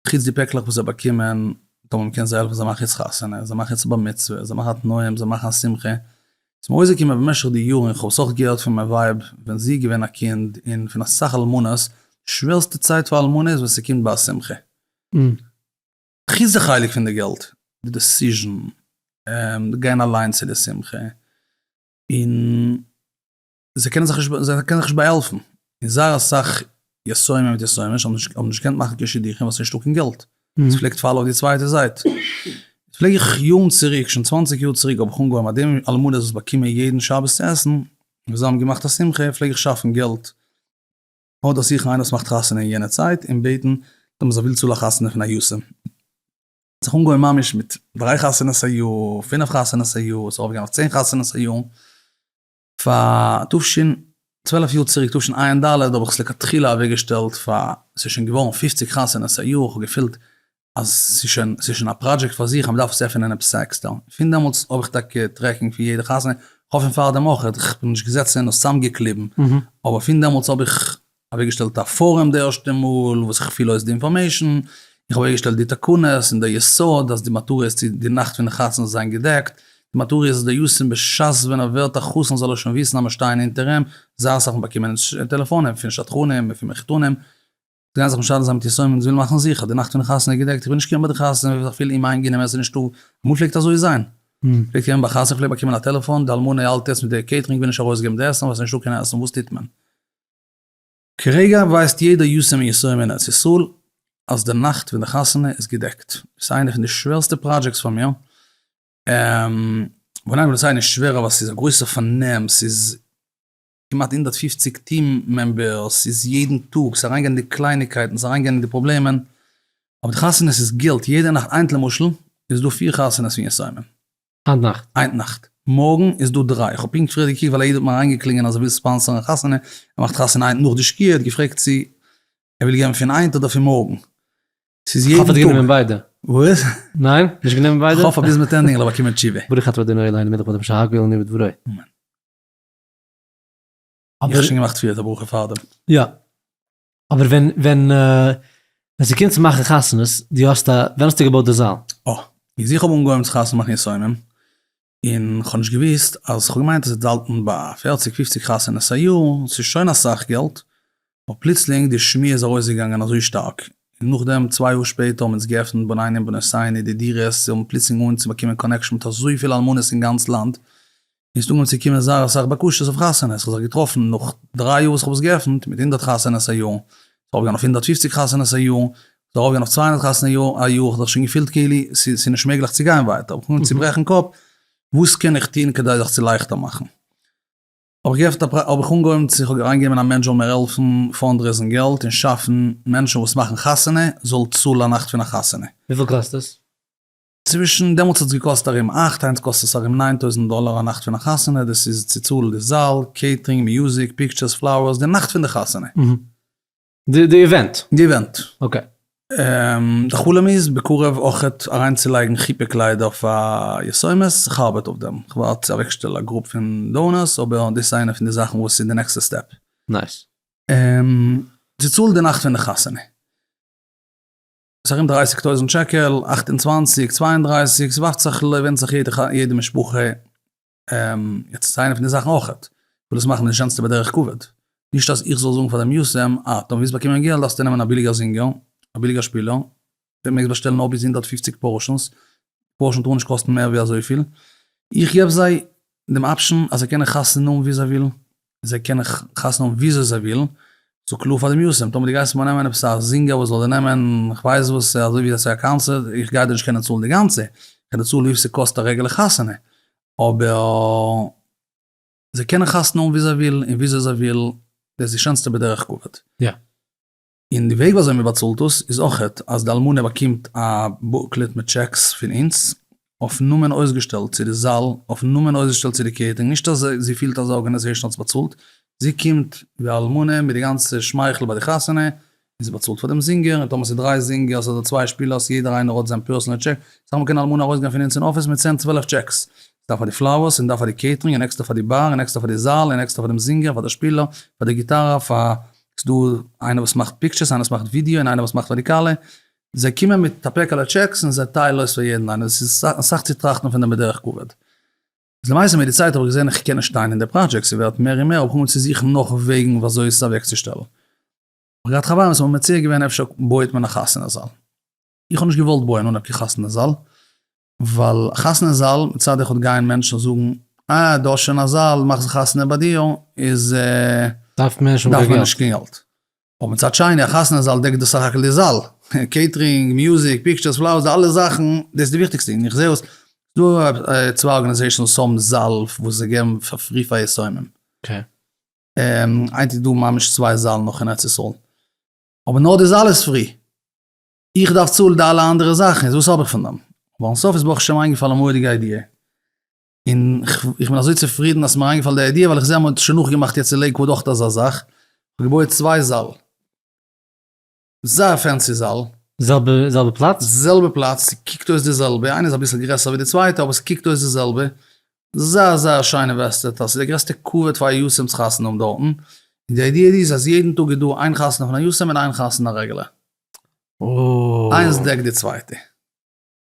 חוץ די פעקלעך וואס זיי באקומען, טאמער מען קען זיי העלפן, זיי מאכן יעצט חתונה, זיי מאכן יעצט א בר מצוה, זיי מאכן א תנאים, זיי מאכן א שמחה, איז מיר אויסגעקומען במשך די יארן, איך האב עס אויך געהערט פון מיין ווייב ווען זי איז געווען א קינד, און פון אסאך אלמנות, די שווערסטע צייט פאר א אלמנה איז ווען ס'קומט ביי א שמחה. חוץ די חלק פון די געלט, די דעסיזשן, גיין אליין צו די שמחה, און. זיי קענען זיך נישט, זיי קענען זיך נישט באהעלפן, און זייער אסאך יסורים מיט יסורים האבן נישט האבן נישט געקענט מאכן קיין שידוכים ווייל ס'נישטא קיין געלט, עס פלעגט פאלן אויף די צווייטע זייט, פלעג איך יארן צוריק, שוין צוואנציג יאר צוריק האב איך אנגעהויבן אז די אלמנות וואס באקומען יעדן שבת צו עסן, און וואס זיי האבן געמאכט א שמחה, פלעג איך שאפן געלט, אדער זוכן איינער וואס מאכט חתונה אין יענע צייט און בעטן אז מען זאל וויל צאלן א חתונה פון א יסור, זיך אנגעהויבן ממש מיט דריי חתונות א יאר, פינף חתונות א יאר, ס'איז ארויפגעגאנגען אויף צען חתונות א יאר. פאר תשנ צוועלף יאר צוריק תשנ א אין ד האב איך עס לכתחילה אוועק געשטעלט פאר עס איז שוין געווארן פופציג חתונות א יאר איך האב געפילט אז עס איז שוין עס איז שוין א פראדזשעקט פאר זיך אז מען דארף עס עפענען עפעס עקסטער פון דעמאלטס האב איך טאקע טרעקינג פון יעדע חתונה איך האף פון פארדעם אויך איך בין נישט געזעצן און עס צאמגעקליבן אבער פון דעמאלטס האב איך אוועקגעשטעלט א פארום די ערשטע מאל וואס איך פיל אויס די אינפארמעישן, איך האב אוועקגעשטעלט די תקנות און די יסוד אז די מטרה איז צו די נאכט פון די חתונה זיין געדעקט, די מטרה איז אז די יסוד בשעת ווען ער ווערט א חתן זאל ער שוין וויסן אז מיר שטייען אונטער אים, זייער אסאך מיר באקומען טעלעפאנען פון שדכנים און פון מחותנים, זיי גייען זיך משדך זיין מיט יסורים און זיי ווילן מאכן זיכער די נאכט פון די חתונה איז געדעקט, איך בין נישט געווען ביי די חתונה איך בין זיך אפילו אומאיינגענומען עס איז נישטא, אמאל פלעגט אזוי זיין, פלעגט ווערן ביי חתונה איך פלעג באקומען א טעלעפאן די אלמנה האלט יעצט מיט די קעיטרינג וויל נישט ארויסגעבן די עסן ווייל עס איז נישטא קיין עסן וואס טוט מען? כרגע ווייסט יעדער יסעמי ישראל אין ארץ ישראל אז די נאכט פון די חתונה איז געדעקט. ס'איז איינע פון די שווערסטע פראדזשעקטס פאר מיר. בנוגע וואס הייסט נישט שווער אבער ס'איז א גרויסע פארנעם, ס'איז כמעט הונדערט פֿופֿציק טיעם מעמבערס, ס'איז יעדן טאג, ס'איז אריינגיין אין די קלייניגקייטן, ס'איז אריינגיין אין די פראבלעמען. אבער די חתונות איז גילט יעדע נאכט. היינט למשל איז דא פיר חתונות פון יסעמי. היינט נאכט. היינט נאכט. מארגן איז דא דריי. כ'האב פונקט פריער געקוקט ווייל א איד האט מיר אריינגעקלינגען אז ער וויל ספאנסערן א חתונה. ער מאכט חתונה היינט נאך די שקיעה. ער האט געפרעגט צו ער וויל געבן פון היינט אדער פון מארגן. ס'איז יעדן טאג. כ'האף ער האט גענומען ביידע. וואס? ניין? נישט גענומען ביידע? כ'האף אז ביז מיט ענדיגן זאל ער באקומען תשובה. ברוך אתה אדוני אלהינו מלך העולם שהכל נהיה בדברו. אמן. האב איך שוין געמאכט פריער את הברכו פארדעם? יא. אבער ווען ווען ווען ס'קומט צו מאכן חתונות, דו האסט א, ווען האסטו געבויט די זאל? אה, איז איך האב אנגעהויבן צו חתונה מאכן ניסיונים, און כ'האב נישט געוואוסט אז כ'האב געמיינט אז ס'דאלטן ביי פערציג פופציג חתונות א יאר, ס'איז שוין אסאך געלט, אבער פלוצלינג די שמועה איז ארויסגעגאנגען אזוי שטארק, און נאכדעם צוויי יאר שפעטער האבן אונז געעפנט בנינים בנוסייני די דירות, זיי האבן פלוצלינג אנגעהויבן צו באקומען קאנעקשאן מיט אזויפיל אלמנות אין גאנץ לאנד, איז אנגעהויבן צו קומען זייער אסאך בקשות אויף חתונות, כ'האב זיך געטראפן נאך דריי יאר וואס כ'האב עס געעפנט, מיט הונדערט חתונות א יאר, ס'איז ארויפגעגאנגען אויף הונדערט פופציג חתונות א יאר, ס'איז ארויפגעגאנגען אויף צוויי הונדערט חתונות א יאר, א יאר, כ'האב זיך שוין געפילט כאילו ס'איז נישט מעגליך צו גיין ווייטער, כ'האב אנגעהויבן צו ברעכן קאפ, וואס קען איך טון כדי זיך צו לייכטער מאכן? האב איך געעפנט א פרייוועט, האב איך אנגעהויבן צו, כ'האב אריינגעגעבן אין א מענטש זאל מיר העלפן פאנדרעיזן געלט און שאפן מענטשן וואס מאכן חתונה זאל צאלן א נאכט פון א חתונה. וויפיל קאסט עס? צווישן, דעמאלטס האט עס געקאסט ארום אַכט, היינט קאסט עס ארום נײַן טויזנט דאלאר א נאכט פון א חתונה, דאס איז צו צאלן די זאל, קעיטרינג, מיוזיק, פיקטשערס, פלאוערס, די נאכט פון די חתונה. די איווענט. די איווענט. אקעי. די חלום איז בקרוב אויכעט אריינצולייגן חופה קליידער פאר יסוימעס, איך ארבעט אויף דעם, איך ווארט צו אוועקשטעל א גרופ פון דאונערס, אבער דאס איז איינע פון די זאכן וואס איז די נעקסטע סטעפ. נייס. צו צאלן די נאכט פון די חתונה. ס'איז ארום דרייסיג טויזענט שקל, אַכט און צוואַנציק, צוויי און דרײַסיק, ס'ווארפט זיך לויט ווענדט זיך יעדע יעדע משפחה, יעצט ס'איז איינע פון די זאכן אויכעט, כ'וויל עס מאכן די שענסטע בדרך כבוד, נישט אז איך זאל זאגן פאר די מיאוסים, אה, טאמער ווילסט באקומען געלט דארפסטו נעמען א ביליגער זינגער, א ביליגער שפילער, די מעגסט באשטעלן נאר ביז הונדערט פֿופֿציק פארשענס, די פארשען טאר נישט קאסטן מער ווי אזויפיל, איך געב זיי דעם אפשען אז זיי קענען חתונה האבן ווי זיי ווילן, זיי קענען חתונה האבן וויאזוי זיי ווילן, ס'איז קלאר פאר די מיאוסים, טאמער דו גייסט מיר נעמען עפעס א זינגער וואס זאל דיר נעמען כ'ווייס וואס אזוי ווי עשוי א קאנצערט, איך גיי דיר נישט קענען צאלן די גאנצע, כ'קען דיר צאלן ווי פיל ס'קאסט א רעגולער חתונה, אבער זיי קענען חתונה האבן ווי זיי ווילן און וויאזוי זיי ווילן, דאס איז די שענסטע בדרך כבוד. יא. און די וועג ווי אזוי מען באצאלט דאס איז אויכעט אז די אלמנה באקומט א בוקלעט מיט טשעקס פון אונז אויפן נאמען אויסגעשטעלט צו די זאל, אויפן נאמען אויסגעשטעלט צו די קעיטערינג, נישט אז זי פילט אז די ארגענעזעישאן האט עס באצאלט, זי קומט ווי א אלמנה מיט די גאנצע שמייכל ביי די חתונה, און זי באצאלט פאר דעם זינגער, און טאמער ס'איז דריי זינגערס אדער צוויי שפילערס יעדער איינער האט זיין פערסענעל טשעק, סא מען קען די אלמנה ארויסגיין פון אונז אין אפיס מיט צען צוועלף טשעקס, ס'דא פאר די פלאוערס, און דא פאר די קעיטערינג, און עקסטער פאר די באר, און עקסטער פאר די זאל, און עקסטער פאר דעם זינגער, פאר די שפילער, פאר די גיטארא, פאר ס'דא איינער וואס מאכט פיקטשערס, איינער וואס מאכט ווידיאו, און איינער וואס מאכט ראדיקאלע, זיי קומען מיט א פעקעלע טשעקס און זיי טיילן אויס פאר יעדן איינער, עס איז אסאך צו טראכטן פון דעם בדרך כבוד. איז למעשה מיט די צייט האב איך געזען איך קען נישט שטיין אין די פראדזשעקט, ס'ווערט מער און מער, האב איך אנגעהויבן צו זוכן נאך וועגן ווי אזוי עס אוועקצושטעלן. כ'האב געהאט חברים וואס האבן מציע געווען אפשר בויעט מען א חתונה זאל. איך האב נישט געוואלט בויען אן א חתונה זאל, ווייל א חתונה זאל מצד אחד גייען מענטשן זאגן אה דו האסט שוין א זאל מאך זיך חתונה ביי דיר איז דארף מען נישט קיין געלט, אבער מצד שני א חתונה זאל דעקט דאס סך הכל די זאל, קעיטרינג, מוזיק, פיקטשערס, פלאוערס, די אלע זאכן, דאס איז די וויכטיגסטע, און איך זעה וואס דא צוויי ארגאניזעישאנס וואס האבן זאל וואס זיי געבן פאר פרי פאר יתומים, היינט איז דא ממש צוויי זאלן נאך אין ארץ ישראל, אבער נאר די זאל איז פרי. איך דארף צאלן די אלע אנדערע זאכן, איז וואס האב איך פון דעם? אבער אן סוף איז ברוך השם איינגעפאלן א מורא'דיגע איידיע, און איך בין אזוי צופרידן אז ס'איז מיר איינגעפאלן די איידיע, ווייל איך זע אז מען האט שוין נאכגעמאכט יעצט אין לעיקוואד אויך אזא זאך, מ'האט געבויעט צוויי זאל, זייער פענסי זאל. זעלבע זעלבע פלאץ? זעלבע פלאץ, ס'קוקט אויס די זעלבע, איינע איז אביסל גרעסער ווי די צווייטע, אבער ס'קוקט אויס די זעלבע, זייער זייער שיין אינוועסטעט, אז ס'איז די גרעסטע כבוד פאר א יתום צו חתונה האבן דארטן, און די איידיע איז אז יעדן טאג איז דא איין חתונה פון א יתום און איין חתונה א רעגולער. איינס דעקט די צווייטע.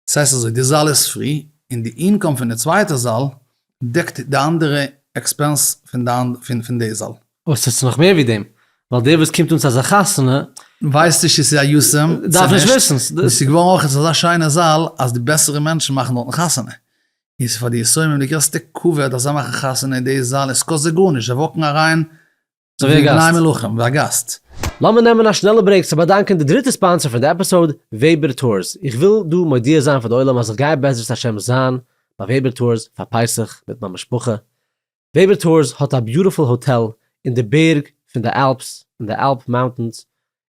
ס'הייסט אזוי, די זאל איז פרי, און די אינקאם פון די צווייטע זאל דעקט די אנדערע עקספענס פון די זאל. אוי, ס'איז נאך מער ווי דעם. ווייל דער וואס קומט אן צו אזא חתונה. ווייסט נישט צו ס'איז א יסעם צו נישט. דארף נישט וויסן. און ס'איז געווארן אויך אזא שיינע זאל אז די בעסערע מענטשן מאכן דארטן חתונה. און ס'איז פאר די יסעימים די גרעסטע כבוד אז זיי מאכן חתונה אין די זאל און ס'קאסט זיי גארנישט. זיי וואקן אריין אזויווי א גאסט. ווי א גאסט. לאמיר נעמען א שנעלע ברעיק צו באדאנקען די דריטע ספאנסער פון די עפיסאוד, וועבער טורס. איך וויל דא מודיע זיין פאר די עולם אז איך גיי בעזרת השם זיין ביי וועבער טורס פאר פסח מיט מיין משפחה. וועבער טורס האט א ביוטיפול האטעל אין די בערג פון די אלפס, אין די אלפ מאונטענס,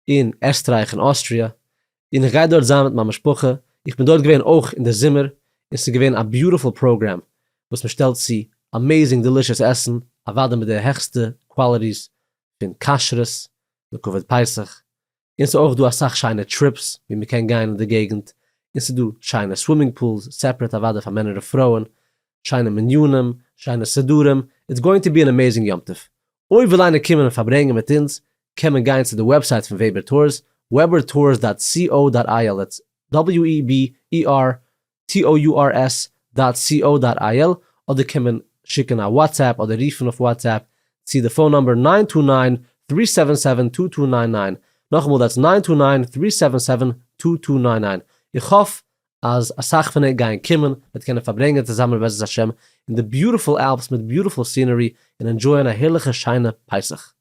אין עסטרייך און אוסטריע, און איך גיי דארט זיין מיט מיין משפחה, איך בין דארט געווען אויך אין די זומער, און ס'איז געווען א ביוטיפול פראגרעם וואס מען שטעלט צו אמעזינג דעלישעס עסן, אוודאי מיט די העכסטע קוואליטיס פון כשרות און כבוד פסח, און ס'איז אויך דא אסאך שיינע טריפס ווי מען קען גיין אין די געגנט, און ס'איז דא שיינע סווימינג פולס, סעפרעט אוודאי פאר מענער און פרויען, שיינע מניינים, שיינע סידורים, איטס גאוינג טו בי אן אמעזינג יום טוב, אויב וויל איינער קומען און פארברענגען מיט אונז, קען מען גיין צו די וועבסייט פון וועבער טורס, וועבער טורס דאט סי או דאט איי על, דעטס WEBERTOURS דאט סי או דאט איי על, אדער קען מען שיקן א וואטסעפפ אדער רופן אויף וואטסעפפ צו די פאון נומבער נײַן טו נײַן, דרײַ זיבן זיבן, צוויי צוויי נײַן נײַן, נאכאמאל דעטס נײַן טו נײַן, דרײַ זיבן זיבן, צוויי צוויי נײַן נײַן, איך האף אז אסאך פון ענק גייען קומען, מיט קענען פארברענגען צוזאמען בעזרת השם אין די ביוטיפול אלפס מיט ביוטיפול סינערי און ענדשויען א הערליכע שיינע פסח.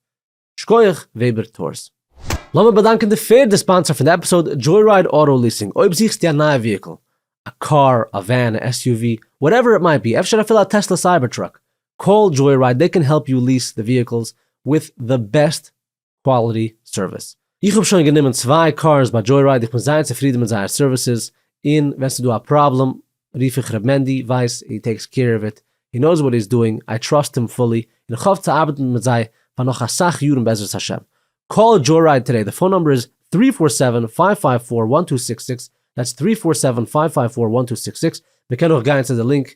שקויעך וועבער טורס. לאמיר באדאנקען די פערדע ספאנסער פון די עפיסאוד, דזשוי-רייד אוטא ליסינג, אויב זוכסטו א נייע וויהיקל, א קאר, א ווען, א SUV, וואטעווער איט מייט בי, אפשר אפילו א טעסלע סייבער טראק, קאל דזשוי-רייד, דעי קען העלפ יו ליס די וויהיקלס וויט די בעסט קוואליטי סערוויס. איך האב שוין גענומען צוויי קארס ביי דזשוי-רייד איך בין זייער צופרידען מיט זייער סערוויסעס און ווען ס'איז דא א פראבלעם רוף איך ר' מענדי ווייס הי טעיקס קעיר אוו איט הי נאוס וואט הי'ס דואינג איי טראסט הים פולי און איך האף צו ארבעטן מיט זיי פאר נאך אסאך יארן בעזרת השם קאל דזשוי-רייד טודעי די פאון נומבער איז טרי פאר סעווען פייוו פייוו פאר וואן טו סיקס סיקס דעטס טרי פאר סעווען פייוו פייוו פאר וואן טו סיקס סיקס מ'קען אויך גייען צו די לינק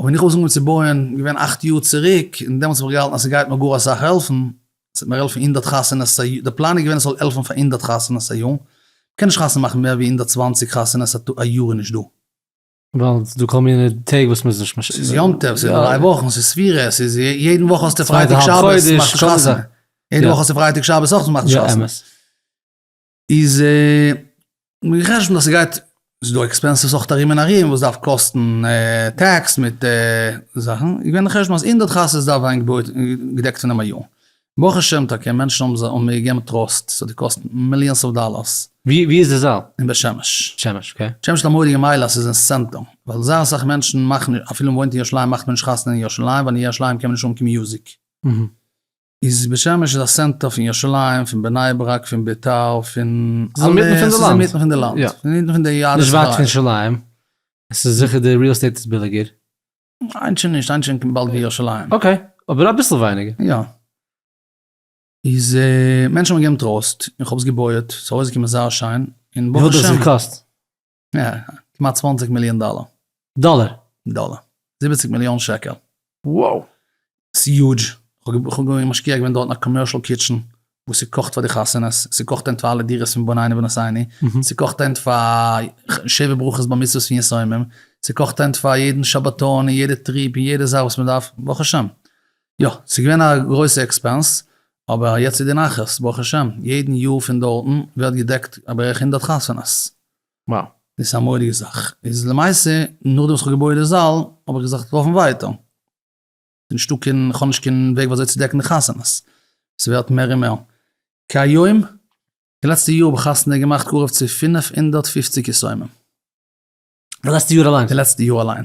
אבער ווען איך האב אנגעהויבן צו בויען געווען אכט יאר צוריק, און דעמאלטס האב איך געהאלטן אז ס'גייט מיר גאר אסאך העלפן, ס'וועט מיר העלפן הונדערט חתונות א יאר, די פלאן איז געווען עס זאל העלפן פאר הונדערט חתונות א יאר, מ'קען נישט חתונה מאכן מער ווי הונדערט צוואַנציק חתונות א טאג, א יאר איז נישט דא. ווייל ס'איז דא כל מיני טעג וואס מ'איז נישט משפיע. ס'איז יום טוב, ס'איז דריי וואכן, ס'איז ספירה, ס'איז יעדן וואך האסטו פרייטאג שבת, מאכסט נישט חתונה, יעדן וואך האסטו פרייטאג שבת אויך, מאכסט נישט חתונה. איז מיר חשבון אז ס'גייט, ס'איז דא עקספענסעס אויך ארום און ארום וואס דארף קאסטן טעקס מיט זאכן, איז געווען די חשבון אז הונדערט חתונות דארף ווערן געבויעט און געדעקט פונעם א י. ברוך השם טאקע מענטשן האבן מיר געגעבן טראסט, ס'האט געקאסט מיליאנס אוו דאלארס. ווי איז די זאל? אין בית שמש. בית שמש, אקעי. בית שמש האט א מורא'דיגע מעלה אז ס'איז אין סענטער, ווייל זייער אסאך מענטשן מאכן, אפילו מ'וואוינט אין ירושלים מאכט מען נישט חתונה אין ירושלים, ווייל אין ירושלים קען מען נישט האבן קיין מיוזיק. איז בית שמש איז א סענטער פון ירושלים פון בני ברק פון ביתר פון אלע עס איז אינמיטן פון די לאנד עס איז אינמיטן פון די יערות נישט ווייט פון ירושלים עס איז זיכער די ריעל עסטעיט איז ביליגער. היינט שוין נישט היינט שוין באלד ווי ירושלים. אקעי אבער אביסל ווייניגער. יא. איז מענטשן האבן געגעבן טראסט און איך האב עס געבויעט ס'איז ארויסגעקומען זייער שיין און ברוך השם. וויפיל האט עס געקאסט? יא, כמעט צוואַנציק מיליאן דאלער. דאלער? דאלער. זיבעציק מיליאן שקל. wow! ס'איז יוטש. כ'האב געווען משקיע געווען דארטן א קאמערשל קיטשן וואס ס'קאכט פאר די חתונות, ס'קאכט הינט פאר אלע דירות פון בנינו ונשאינו, ס'קאכט הינט פאר שבע ברכות בר מצוות פון יתומים, ס'קאכט הינט פאר יעדן שבתון און יעדע טריפ און יעדע זאך וואס מ'דארף, ברוך השם. יא, ס'איז געווען א גרויסע עקספענס, אבער יעצט איז די נחת, ברוך השם, יעדן יאר פון דארטן ווערט געדעקט בערך הונדערט חתונות. וואו. דאס איז א מורא'דיגע זאך. איז למעשה נאכדעם וואס כ'האב געבויעט די זאל האב איך געזאכט לויפן ווייטער. נישטא קיין, כ'האב נישט קיין וועג ווי אזוי צו דעקן די חתונות. ס'ווערט מער און מער. כהיום, די לעצטע יאר האב איך חתונה געמאכט קרוב צו פֿינף הונדערט פֿופֿציק יסומים. די לעצטע יאר אליין? די לעצטע יאר אליין.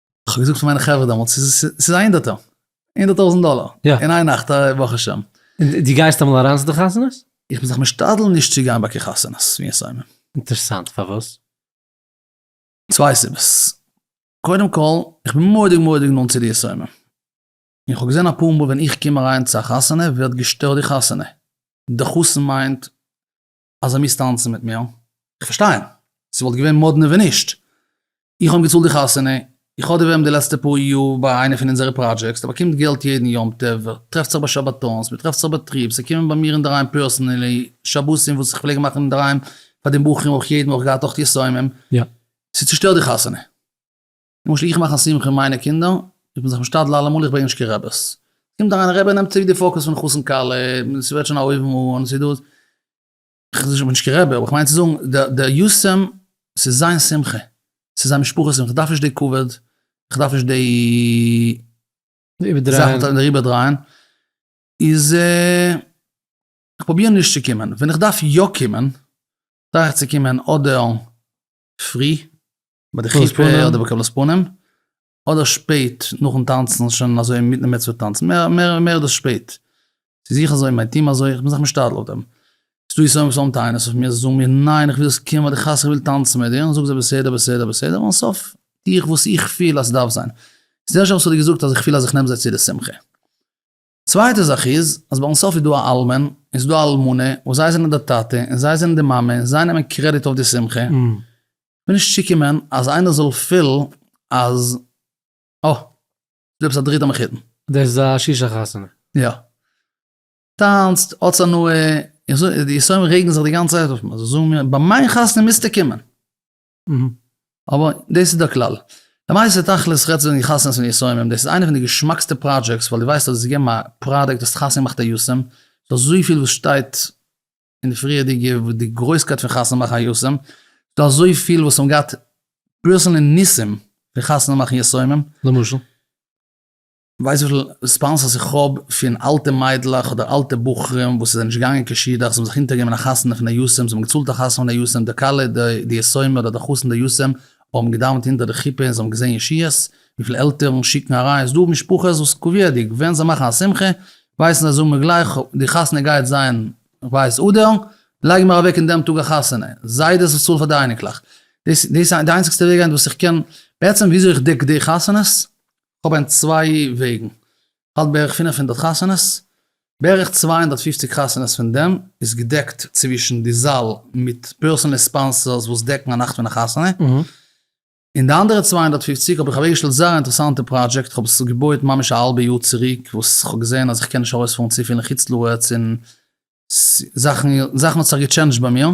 איך האב געזאגט פאר מיינע חברה דעמאלטס ס'איז ס'איז א הינדערטער הינדערט טויזענט דאלער יא אין איין נאכט א ברוך השם די גייסט אמאל אריין צו די חתונות? איך בין זיך משתדל נישט צו גיין ביי קיין חתונות מי יעשה עמי. אינטערסאנט פארוואס? צוויי סיבות. קודם כל, איך בין מורא'דיג מורא'דיג נאנט צו די יסורים. און איך האב געזען אפאר מאל ווען איך קום אריין צו א חתונה ווערט געשטערט די חתונה. די חתן מיינט אז ער מוז טאנצן מיט מיר, איך פארשטיי אים, ס'וואלט געווען מאדנע ווען נישט, איך האב אים געצאלט די חתונה, איך האב די ווערם די לעצטע פאר יאר ביי איינע פון אונזערע פראדזשעקס, ער באקומט געלט יעדן יום טוב, ער טרעפט זיך ביי שבתון'ס, מ'טרעפט זיך ביי טריפס, ער קומען ביי מיר אינדערהיים פערסענעלי, שבתים וואס איך פלעג מאכן אינדערהיים פאר די בחורים אויך יעדן וואך געהאט אויך יסומים, ס'צושטערט די חתונה. למשל איך מאך א שמחה אין מיינע קינדער, איך בין זיך משתדל אלעמאל איך ברענג נישט קיין רעבעס, קומט אריין א רעבע ער נעמט צוריק די פאקעס פון חתן כלה, עס ווערט שוין א אויבן אן, ס'דא, איך בין נישט קיין רעבע אבער כ'מיין צו זאגן דער יסעם ס'איז זיין שמחה, ס'איז זיין משפחה שמחה, כ'דארף נישט די כבוד, כ'דארף נישט די זאכן זיך אריבער דרייען, איז כ'פרוביר נישט צו קומען, ווען איך דארף יא קומען, טריי איך צו קומען אדער פרי, ביי די חופה אדער ביי קבלת פנים, אדער שפעט נאכן טאנצן שוין אזוי אינמיטן די מצוה טאנצן, מער מער דאס שפעט, ס'איז זיך אזוי, מיין טעם אזוי, איך בין זיך משתדל אויף דעם, ס'דא יסורים וואס האבן טענות אויף מיר, זיי זאגן מיר ניין איך וויל ס'קומט ביי די חתונה איך וויל טאנצן מיט דיר, זאג זיי בסדר בסדר בסדר, און סוף טו איך וואס איך פיל אז ס'דארף זיין, ס'דערשער וואס האט דיר געזאגט אז איך פיל אז איך נעם זיי צו די שמחה. צווייטע זאך איז אז ביי אונז סוף איז דא א אלמן און ס'איז דא א אלמנה וואס זיי זענען די טאטע און זיי זענען די מאמע און זיי נעמען קרעדיט אויף די שמחה. כ'בין נישט צוקומען אז איינער זאל פילן אז אה ס'איז דא עפעס א דריטע מחותן. דאס איז א שישא חתונה. יא. טאנצט, האטס הנאה, איך זאג די יסורים רעגן זיך די גאנצע צייט אויף מיר, זיי זאגן מיר ביי מיין חתונה מוזטו קומען. אבער דאס איז דער כלל. למעשה תכלית רעדט זיך וועגן די חתונות פון יסורים, דאס איז איינע פון די געשמאקסטע פראדזשעקס ווייל דו ווייסט אז עס איז געגעבן א פראדוקט האסט חתונה געמאכט א יסורים, ס'איז דא אזוי פיל וואס שטייט אין די פריערדיגע וואס די גרויסקייט פון חתונה מאכן א יסורים, ס'איז דא אזוי פיל וואס האבן געהאט פערסענלי ניסים פון חתונה מאכן יסורים. למשל? ווייסט וויפיל רעספאנסעס איך האב פון אלטע מיידלעך אדער אלטע בחורים וואס זענען נישט געגאנגען קיין שידוך, זיי האבן זיך אונטערגעגעבן אין א חתונה פון א יסעם, זיי האבן געצאלט א חתונה פון א יסעם, די כלה, די יסעומי אדער די חתן די יסעם האבן געדאווענט אונטער די חופה און זיי האבן געזען ישועות, וויפיל עלטערן שיקן אריין, ס'דא משפחות וואס קביעות'דיג ווען זיי מאכן א שמחה ווייסן זיי זאגן מיר גלייך די חתונה גייט זיין כ'ווייס אדר, לייגן מיר אוועק אין דעם טאג א חתונה, זיידעס וואס צאלן פאר די אייניקלעך, דאס איז די איינציגסטע וועג היינט וואס איך קען, בעצם וויאזוי איך דעק די חתונות, כ'האב היינט צוויי וועגן, כ'האלט בערך פֿינף הונדערט חתונות, בערך צוויי הונדערט פֿופֿציק חתונות פון דעם איז געדעקט צווישן די זאל מיט פערסאנעל ספאנסערס וואס דעקן א נאכט פון א חתונה, און די אנדערע צוויי הונדערט פֿופֿציק האב איך אוועקגעשטעלט זייער א אינטערעסאנטע פראדזשעקט, כ'האב עס געבויעט ממש א האלבע יאר צוריק וואס כ'האב געזען אז כ'קען נישט ארויספארן צופיל אין חוץ לארץ און זאכן האבן זיך געטשענדזשט ביי מיר,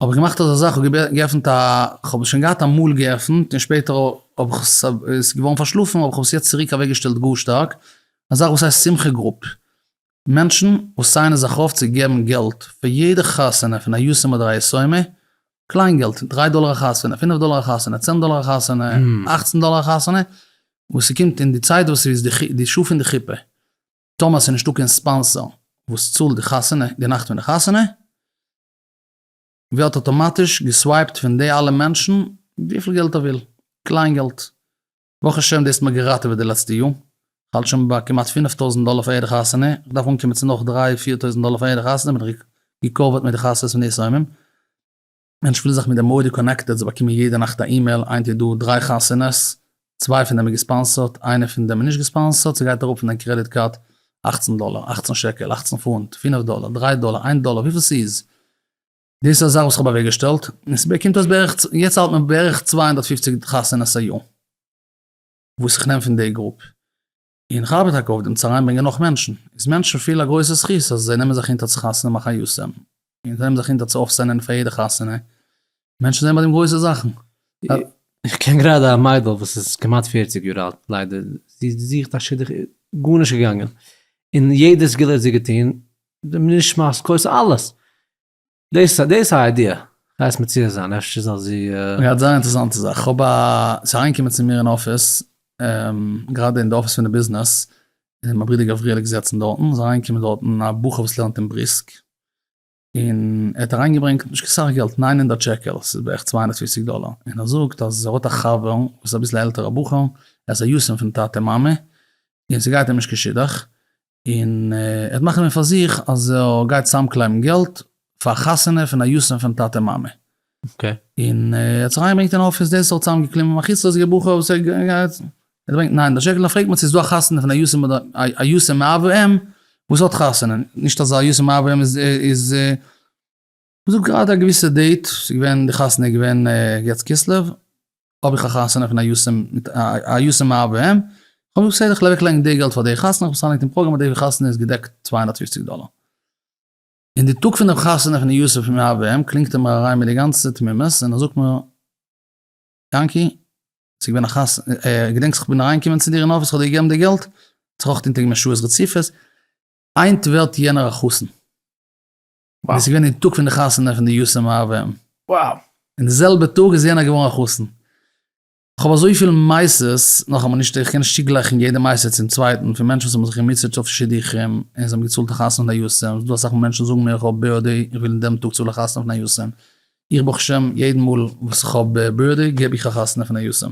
האב איך געמאכט אזא זאך, כ'האב געעפנט א, כ'האב עס שוין געהאט אמאל געעפנט און שפעטער האב איך עס, ס'איז געווארן פארשלאפן האב איך עס יעצט צוריק אוועקגעשטעלט גאר שטארק, א זאך וואס הייסט שמחה גרופ, מענטשן וואס סיינען זיך אויף צו געבן געלט פאר יעדע חתונה פון א יתום אדער א יתומה, קליין געלט, דריי דאלער א חתונה, פינף דאלער א חתונה, צען דאלער א חתונה, אכצן דאלער א חתונה, וואס ס'קומט אין די צייט וואס ס'איז די שעה פון די חופה. טאמער ס'איז נישטא קיין ספאנסער וואס צאלט די חתונה, די נאכט פון די חתונה, ווערט אטאמאטיש געסווייפט פון די אלע מענטשן וויפיל געלט ער וויל, קליין געלט, ברוך השם דאס האט מיר געראטעוועט די לעצטע יאר, כ'האלט שוין ביי כמעט פינף טויזנט דאלער פאר יעדע חתונה, כ'דארף אנקומען צו נאך דריי פיר טויזנט דאלער פאר יעדע חתונה, בין איך געקאווערט מיט די חצרות און די שמים. מענטש פילט זיך מיט די מוהרא י קאנעקטעד, זיי באקומען יעדע נאכט א אימעיל, היינט איז דא דריי חתונות, צוויי פון דעם איז געספאנסערט, איינע פון דעם איז נישט געספאנסערט, ס'גייט אראפ פון דיין קרעדיט קארד אַכצן דאלער, אַכצן שקל, אַכצן פונט, פינף דאלער, דריי דאלער, איין דאלער, וויפיל ס'איז. דאס איז א זאך וואס כ'האב אוועקגעשטעלט, און ס'באקומט אויס בערך, יעצט האלט מען בערך צוויי הונדערט פופציג חתונות א יאר, וואס איך נעם פון די גרופ, און כ'ארבעט טאקע אויף דעם צו אריינברענגען נאך מענטשן, איז מענטשן פיל א גרויסע זכות אז זיי נעמען זיך אונטער צו חתונה מאכן א יאסעלע, און זיי נעמען זיך אונטער צו אויפסענען פאר יעדע חתונה, מענטשן זעען ביי דעם גרויסע זאכן. איך קען גראדע א מיידל וואס איז כמעט פערציג יאר אלט, ליידער, זי זוכט א שידוך איז גארנישט געגאנגען, און יעדע סגולה האט זי געטון, די נשמת כוס אלעס, דאס איז א איידיע, כ'הייס מציע זיין אפשר זאל זי. יא זייער אינטערסאנט צו זאך, כ'האב א, ס'איז אריינגעקומען צו מיר אין אפיס, גראדע אין די אפיס פון די ביזנעס, און מיין ברודער גבריאל איז געזעצן דארטן, איז אריינגעקומען דארטן א בחור וואס לערנט אין בריסק, און ער האט אריינגעברענגט נישט קיין סאך געלט, ניין הונדערט שקל, ס'איז בערך צוויי הונדערט פֿופֿציק דאלער, און ער זאגט אז ער האט א חבר וואס איז אביסל א עלטערע בחור, ער איז א יתום פון טאטע מאמע, און ס'גייט אים נישט קיין שידוך, און ער האט נאך גענומען פאר זיך אז ער גייט צוזאמקלייבן געלט פאר א חתונה פון א יתום פון טאטע מאמע. און ער האט זיך אריינגעברענגט אין אפיס דאס האט צוזאמגעקליבן א חוצלעזיגער בחור וואס ער גייט אדורך ניין דער שקל דאן פרעגט מען צו עס איז דא א חתונה פון א יתום אדער א יתום מאב ואם וואס האט חתונה, נישט אז א יתום מאב ואם איז. זאגט גראדע א געוויסע דעיט, ס'איז געווען די חתונה איז געווען יט כסלו, האב איך א חתונה פון א יו ס מיט א יו ס מאב ם, כ'האב געזאגט בסדר כ'לייג אוועקלייגן די געלט פאר די חתונה, כ'האב עס אריינגעלייגט אין פראגראם אז די חתונה איז געדעקט צוויי הונדערט פֿופֿציק דאלער. אין די טאג פון די חתונה פון די יו ס פון מאב ם קלינגט ער מיר אריין מיט די גאנצע תמימות און ער זאגט מיר, יענקי, ס'איז געווען א חתונה, געדענקסט כ'בין אריינגעקומען צו דיר אין אפיס כ'האב דיר געגעבן די געלט, האט זיך אויך אונטערגעגעבן שעות רצופות, היינט ווערט יענער א חתן. און עס איז געווען אין טאג פון די חתונה פון די יסעם אב ם, און די זעלבע טאג איז יענער געווארן א חתן. איך האב אזויפיל מעשות, נאכאמאל נישט איך קען נישט צוגלייכן יעדע מעשה צום צווייטן, פון מענטשן וואס האבן זיך געמוטשעט אויף שידוכים און זיי האבן געצאלט א חתונה פון א יסעם, ס'איז דא אסאך מאל מענטשן זאגן מיר איך האב ב ה די איך וויל אין דעם טאג צאל איך חתונה פון א יסעם, איך ברוך השם יעדן מאל וואס איך האב ב ה די געב איך א חתונה פון א יסעם.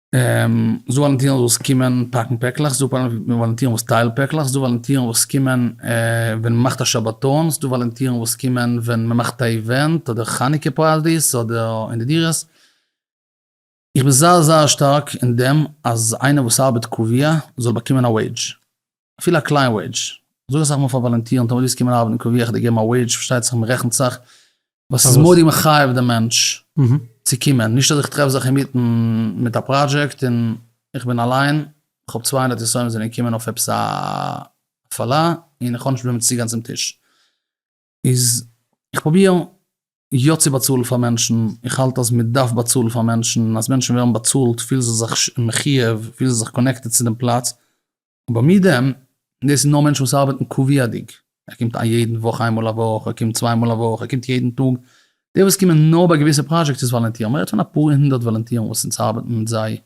ס'דא וואלונטירן וואס קומען פאקן פעקלעך, ס'דא וואלונטירן וואס טיילן פעקלעך, ס'דא וואלונטירן וואס קומען ווען מ'מאכט א שבתון, ס'דא וואלונטירן וואס קומען ווען מ'מאכט א איווענט אדער חנוכה פארטיס אדער אין די דירות. איך בין זייער זייער שטארק אין דעם אז איינער וואס ארבעט קביעה זאל באקומען א וועידזש. אפילו א קליין וועידזש, זאג אסאך מאל פאר וואלונטירן, טאמער ווילסט קומען ארבעטן אין קאווע איך דיר געבן א וועידזש, פארשטייט זיך מען רעכנט זיך, ווייל ס'איז מאד איר מחייב דעם מענטש צו קומען, נישט אז איך טרעף זיך אינמיטן מיט א פראדזשעקט און איך בין אליין, איך האב צוויי הונדערט יסורים זענען געקומען אויף עפעס א הפעלה און איך האב נישט וועמען צו גיין צום טיש. איז איך פרוביר יא צו באצאלן פאר מענטשן, איך האלט אז מען דארף באצאלן פאר מענטשן, און אז מענטשן ווערן באצאלט פילן זיי זיך מחיוב, פילן זיי זיך קאנעקטעד צו דעם פלאץ, אבער מי יידען, דאס איז נאר מענטשן וואס ארבעטן קביעות'דיג, ער קומט א יעדן וואך איינמאל א וואך, ער קומט צוויי מאל א וואך, ער קומט יעדן טאג, די וואס קומען נאר ביי געוויסע פראדזשעקטס איז וואלענטירן, מען רעדט פון אפאר הונדערט וואלענטירן וואס אונז ארבעטן מיט זיי,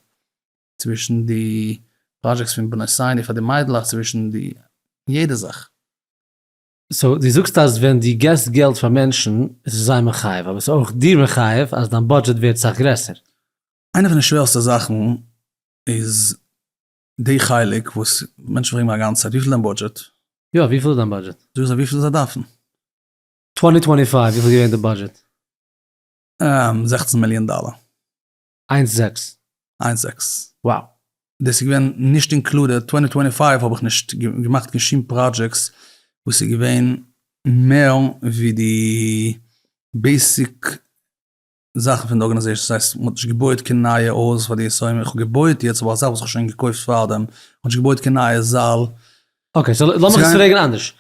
צווישן די פראדזשעקטס פון בנות ציון און פאר די מיידלעך, צווישן די יעדע זאך. סאו דו זאגסט אז ווען דו געסט געלט פאר מענטשן איז עס זיי מחייב, אבער עס איז אויך דיר מחייב אז דיין בודזשעט ווערט סאך גרעסער. איינע פון די שווערסטע זאכן איז די חלק וואס מענטשן פרעגן מיר א גאנצע צייט, וויפיל איז דיין בודזשעט? יא, וויפיל איז דיין בודזשעט? זאג איך זיי וויפיל זיי דארפן. טווענטי טווענטי פייוו וויפיל איז געווען די בודזשעט? זעכצן מיליאן דאלער. איינס זעקס. איינס זעקס. וואו. דאס איז געווען נישט אינקלודעד, צוויי טוינטי טוינטי פייוו האב איך נישט געמאכט קיין שום פראדזשעקטס וואס איז געווען מער ווי די בעיסיק זאכן פון די ארגענעזעישאן, דאס הייסט מ'האט נישט געבויעט קיין נייע הויז פאר די עשרים, איך האב געבויעט יעצט אבער א זאך וואס כ'האב שוין געקויפט פארדעם, מ'האט נישט געבויעט קיין נייע זאל. אקעי, סאו לאמיך עס פרעגן אנדערש,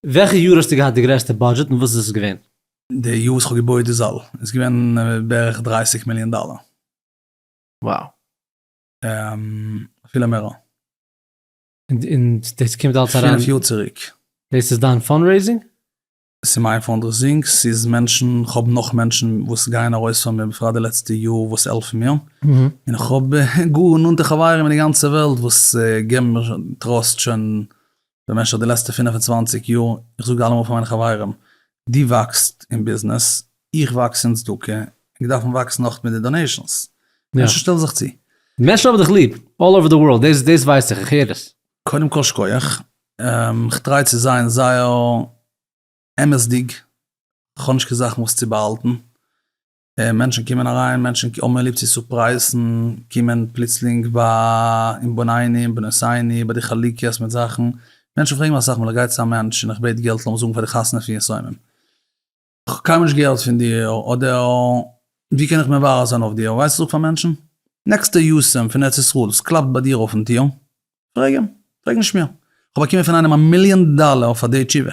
וועלכע יאר האסטו געהאט די גרעסטע בודזשעט און וואס איז עס געווען? די יאר וואס כ'האב געבויעט די זאל איז געווען בערך דרײַסיק מיליאן דאלער. וואו. אפילו מער. און דאס קומט אלס אריין. פינף יאר צוריק. דאס איז דיין פאנדרעיזינג? ס'איז מיין פאנדרעיזינג, ס'איז מענטשן, כ'האב נאך מענטשן וואס גייען ארויס פאר מיר בפרט די לעצטע יאר וואס העלפן מיר, און איך האב גאר נאנטע חברים אין די גאנצע וועלט וואס געבן מיר טראסט שוין במשך די לעצטע פינף און צוואנציג יאר, איך זאג אלעמאל פאר מיינע חברים, דו וואקסט אין ביזנעס, איך וואקס אין צדקה, און מיר דארפן וואקסן נאך מיט די דאנעישאנס. מענטשן שטעלן זיך צו. מענטשן האבן דיך ליב, אלל אווער די ווארלד, דאס דאס ווייס איך, איך הער עס. קודם כל שקויעך, איך טריי צו זיין זייער אמת'דיג, איך האב נישט קיין זאכן וואס צו באהאלטן, מענטשן קומען אריין, מענטשן האבן ליב צו סורפרייזן, קומען פלוצלינג ביי אין בנינים בנותינו ביי די חלוקות מיט זאכן, מענטשן פרעגן מיך אסאך מאל איך גיי צו א מענטש און איך בעט געלט לאמיר זאגן פאר די חתונה פון יסורים, איך האב קיינמאל נישט געהערט פון דיר אדער ווי קען איך מברר זיין אויף דיר, ווייסט וואס איך זאג פאר מענטשן? נעקסטע יסורים פון ארץ ישראל, סקלאפט ביי דיר אויפן טיר, פרעג אים, פרעג נישט מיר, איך האב באקומען פון איינעם א מיליאן דאלער פאר די תשובה.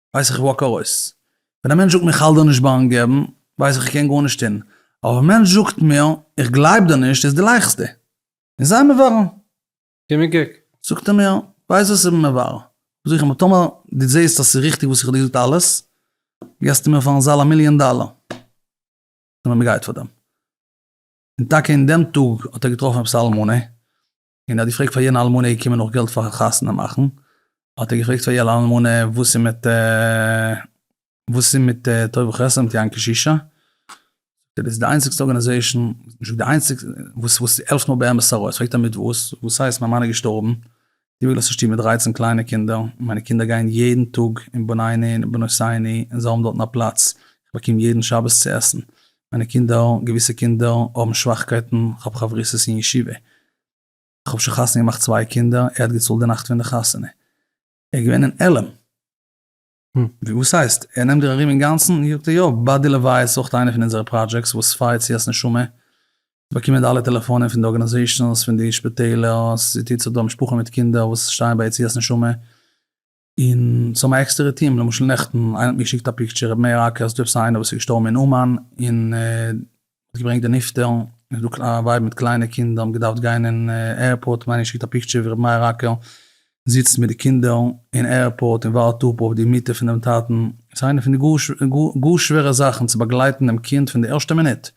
ווייס איך איך וואק ארויס. ווען א מענטש זאגט מיר איך האלט דיר נישט ביים געבן, ווייס איך איך קען גארנישט טון. אבער ווען א מענטש זאגט מיר איך גלייב דיר נישט איז די לייכסטע. און זיי מברר. גיב מיר קוק. זאגט ער מיר, ווייסט וואס איך בין מברר. זאג איך אים אבער טאמער דו זעסט אז ס'איז ריכטיג וואס איך האב דיר געזאגט אלעס, געסטו מיר פארן זאל א מיליאן דאלער. און מ'גייט פאר דעם. און טאקע אין דעם טאג האט ער געטראפן עפעס א אלמנה, און ער האט געפרעגט פאר יענע אלמנה געקומען נאך געלט פאר חתונה מאכן, האט ער געפרעגט פאר יענע אלמנה וואס איז מיט וואס איז מיט טוב וחסד מיט יין קשישא, זאגט ער דאס איז די איינציגסטע ארגאניזעישן, האט נישט געזאגט די איינציגסטע, וואס וואס העלפט נאר באמת ארויס, פרעגט ער מיט וואס, וואס הייסט מיין מאן איז געשטארבן, די וואס געלאזט א שטוב מיט דרייצן קליינע קינדער, מיינע קינדער גייען יעדן טאג אין בניני און בנותיני און זיי האבן דארטן א פלאץ, איך באקום יעדן שבת צו עסן, מיינע קינדער, געוויסע קינדער האבן שוואכקייטן, כ'האב חברותות אין ישיבה, כ'האב שוין חתונה געמאכט צוויי קינדער, ער האט געצאלט די נאכט פון די חתונה, ער איז געווען אין עלם. ווי וואס הייסט? ער נעמט דיר ארום אינגאנצן? זאגט ער, יא, ביי די לוויה איז אויך איינער פון אונזערע פראדזשעקס וואס פייערט צו אז נשמה, זי באקומען די אלע טעלעפאנען פון די ארגאניזעישאנס, פון די שפיטעלער, זי טוט זיך דורך משפחה מיט קינדער וואס שטייען ביי יציאת נשמה, און ס'האבן עקסטערע טיעם, למשל נעכטן, איינער האט מיר געשיקט א פיקטשער, ר' מאיר אקער, ס'דא עפעס איינער וואס איז געשטארבן אין אומאן, און האט געברענגט די נפטר, און ס'דא א ווייב מיט קליינע קינדער האבן געדארפט גיין אין עירפארט, און איינער האט געשיקט א פיקטשער ווי ר' מאיר אקער זיצט מיט די קינדער אין עירפארט און ווארט אפ אויף די מיטה פונעם טאטן, ס'איז איינע פון די גאר שווערע זאכן צו באגלייטן דעם קינד פון די ערשטע מינוט,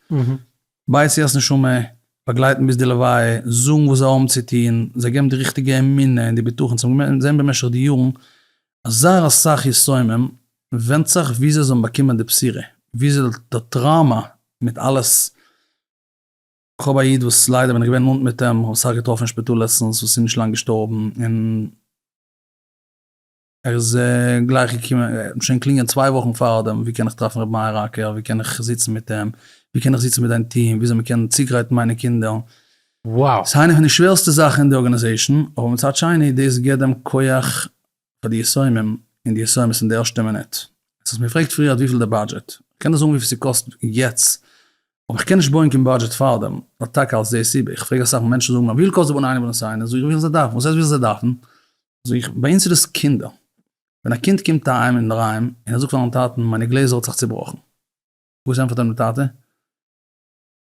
בית יעקב'ס נשמה, באגלייטן ביז די לוויה, זאגן וואס זיי האבן צו טון, זיי געבן די ריכטיגע אמונה און די בטחון, זיי האבן געזען במשך די יארן אז זייער אסאך יתומים, ווענדט זיך וואו זיי זאלן באקומען די בחירה, וואו איז די טראומא מיט אלעס, כ'האב א איד וואס ליידער בין איך געווען נאנט מיט אים, כ'האב אסאך געטראפן אין שפיטאל לעצטנס וואס איז נישט לאנג געשטארבן, און. ער איז גלייך געקומען, מ'האט שוין געקלינגען צוויי וואכן פארדעם, ווי קען איך טרעפן ר' מאיר אקער, ווי קען איך זיצן מיט אים, ווי קען איך זיצן מיט דיין טיעם, וויאזוי מ'קען צוגרייטן מיינע קינדער. וואו. ס'איז איינע פון די שווערסטע זאכן אין די ארגאניזעישן, אבער מצד שני דאס גיבט דעם כח פאר די יסומים און די יסומות אין די ערשטע מינוט. אז האסט מיר געפרעגט פריערט וויפיל די באדזשעט, כ'קען דיר זאגן וויפיל ס'קאסט יעצט, אבער כ'קען נישט בויען קיין באדזשעט פארדעם, נאר טאקע אלס די סיבה. איך פרעג אסאך מענטשן זאגן מיר, וויפיל קאסט די בנין אבן הסיני? זאג איך, וויפיל זיי דארפן. וואס הייסט וויפיל זיי דארפן? זאג איך, ביי אונז איז דאס קינדער. ווען א קינד קומט אהיים אין דריים און ער זאגט פארן טאטן מיינע גלעזער האט זיך צובראכן. וואס ענטפערט אים די טאטע?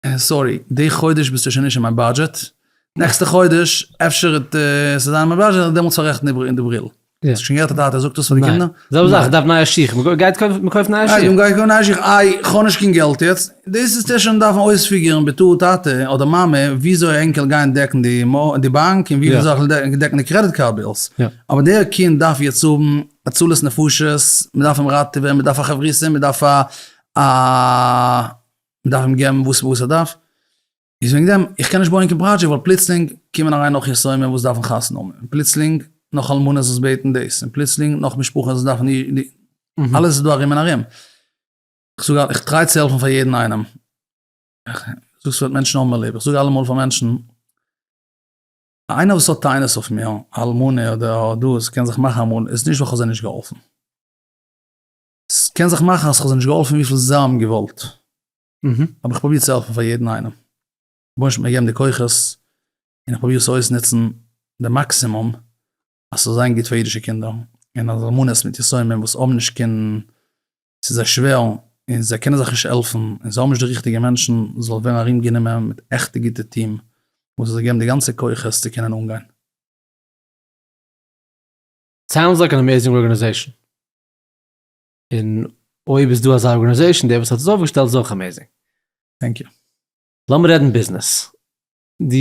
אה סארי, די חודש ביסטו שוין נישט אין מיין באדזשעט, נעקסטע חודש אפשר וועט עס זיין אין מיין באדזשעט און דעמאלטס פאררעכטן די בריל. האסט שוין געהערט א טאטע זאגט דאס פאר די קינדער? זעלבע זאך, איך דארף נייע שיך, מ'גייט קויפן נייע שיך. דאס איז צו שוין דארפן אויספיגערן בתור טאטע אדער מאמע וויאזוי ענקער גייען דעקן די די באנק און ווי יא. מ'זאל דעקן די קרעדיט קארד בילס. יא. אבער דער קינד דארף יעצט האבן הצלת נפשות, מ'דארף אים ראטעווען, מ'דארף א חברותא, מ'דארף א א מ'דארף אים געבן וואס וואס ער דארף, איז וועגן דעם איך קען נישט בויען קיין פראדזשעקט ווייל פלוצלינג קומען אריין נאך יתומים וואס דארפן חתונה האבן און פלוצלינג נאך אלמנות וואס בעטן דאס און פלוצלינג נאך משפחות וואס דארפן די אלעס איז דא ארום און ארום. כ'זאג א, איך טריי צו העלפן פאר יעדן איינעם. זאגסט ס'וועט מענטשן האבן מיר ליב. איך זאג אלעמאל פאר מענטשן, איינער וואס האט טענות אויף מיר, אלמנה אדער דאס, קען זיך מאכן אמאל איז נישט ווייל כ'האב זיי נישט געהאלפן. ס'קען זיך מאכן אז כ'האב זיי נישט געהאלפן וויפיל זיי האבן געוואלט. אבער איך פרוביר צו העלפן פאר יעדן איינעם. רבונו של עולם האט מיר געגעבן די כוחות, און איך פרוביר עס אויסנוצן די מאקסימום, אז ס'זאל זיין גוט פאר אידישע קינדער, און אז אלמנות מיט יתומים וואס האבן נישט קיין, ס'איז זיי שווער און זיי קענען זיך נישט העלפן און זיי האבן נישט די ריכטיגע מענטשן, זאל ווערן ארום גענומען מיט עכטע גוטע טיעם וואס זאל זיי געבן די גאנצע כוחות צו קענען אנגיין. סאונדס לייק אן עמעזינג ארגאניזעישאן. און אויב איז דא אזא ארגאניזעישאן, דער וואס האט עס אויפגעשטעלט איז אויך עמעזינג. טענק יו. לאמיר רעדן ביזנעס. דו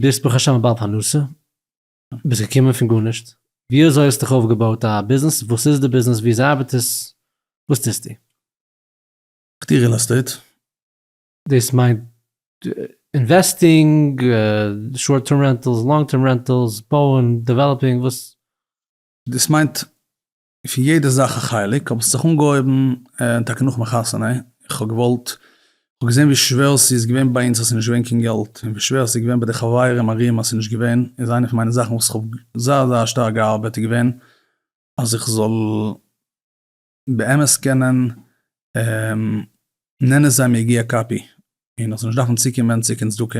ביסט ברוך השם א בעל פרנסה, ביסט געקומען פון גארנישט, ווי אזוי האסט דיך אויפגעבויט א ביזנעס, וואס איז די ביזנעס, ווי אזוי ארבעט עס, וואס טוסטו? כ'טוה ריעל עסטעיט. דאס מיינט אינוועסטינג, שארט טערם רענטעלס, לאנג טערם רענטעלס, בויען, דעוועלאפינג, וואס? דאס מיינט פון יעדע זאך א חלק, האב איך זיך אנגעהויבן, און טאקע נאכ'ן חתונה, איך האב געוואלט, איך האב געזען ווי שווער ס'איז געווען ביי אונז אז ס'איז נישט געווען קיין געלט, און ווי שווער ס'איז געווען ביי די חברים ארום אז ס'איז נישט געווען, איז איינע פון מיינע זאכן וואס איך האב זייער זייער שטארק געארבעט איז געווען אז איך זאל באמת קענען נהנה זיין מיגיע כפי, און איך זאל נישט דארפן צוקומען צו קיין צדקה.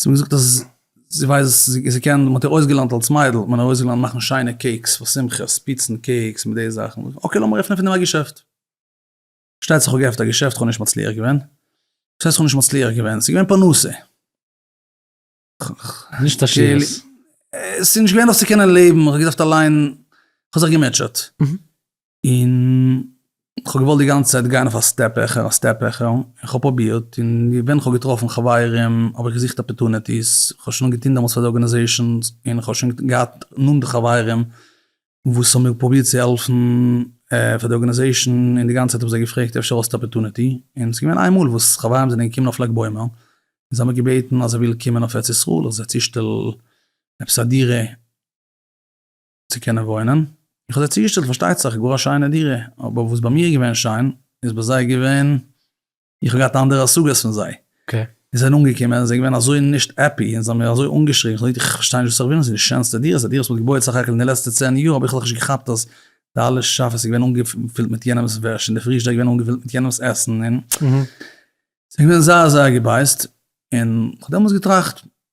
זי האט געזאגט אז זי ווייסט זי קען מען האט איר אויסגעלערנט אלס מיידל האט מען איר אויסגעלערנט מאכן שיינע קעיקס פאר שמחות פיצן קעיקס מיט די זאכן אקעי לאמיר עפענען פון דעם א געשעפט. שטייצעך איך האב געעפנט א געשעפט איך האב נישט מצליח געווען. וואס הייסט איך האב נישט מצליח געווען? ס'איז געווען פרנסה. נישט עשירות. ס'איז נישט געווען נאך צו קענען לעבן, איך האב געדארפט אליין, איך האב זיך געמוטשעט. און כ'האב געוואלט די גאנצע צייט גיין אויף א סטעפ העכער א סטעפ העכער, און כ'האב פרובירט, און ווען כ'האב געטראפן חברים האב איך געזוכט אפערטוניטיס, כ'האב שוין געטון דעמאלטס פאר די ארגענעזעישאנס, און כ'האב שוין געהאט נאנטע חברים וואס האבן מיר פרובירט צו העלפן פאר די ארגענעזעישאן, און די גאנצע צייט האב איך זיי געפרעגט אפשר האסטו אפערטוניטי, און ס'איז געווען איינמאל וואס חברים זענען געקומען אויף לג בעומר, און זיי האבן מיר געבעטן אז ער וויל קומען אויף ארץ ישראל, איך זיי צושטעל עפעס א דירה, צו קענען וואוינען, איך האב זיי צוגעשטעלט פארשטייט זיך גאר א שיינע דירה, אבער וואס ביי מיר איז געווען שיין איז ביי זיי געווען, איך האב געהאט אנדערע השגות פון זיי, און זיי זענען אנגעקומען און זיי געווען אזוי נישט העפי און זיי האבן מיר אזוי אנגעשריגן, איך האב געזאגט איך פארשטיי נישט וואס איך וויל, עס איז די שענסטע דירה, עס איז א דירה וואס מען האט געבויעט סך הכל אין די לעצטע צען יאר, האב איך לכש געכאפט אז די אלע שאפעס איז געווען אנגעפילט מיט יענעמס וועש און די פריזשדער איז געווען אנגעפילט מיט יענעמס עסן און ס'איז געווען זייער זייער געבייזט, און איך האב דעמאלטס געטראכט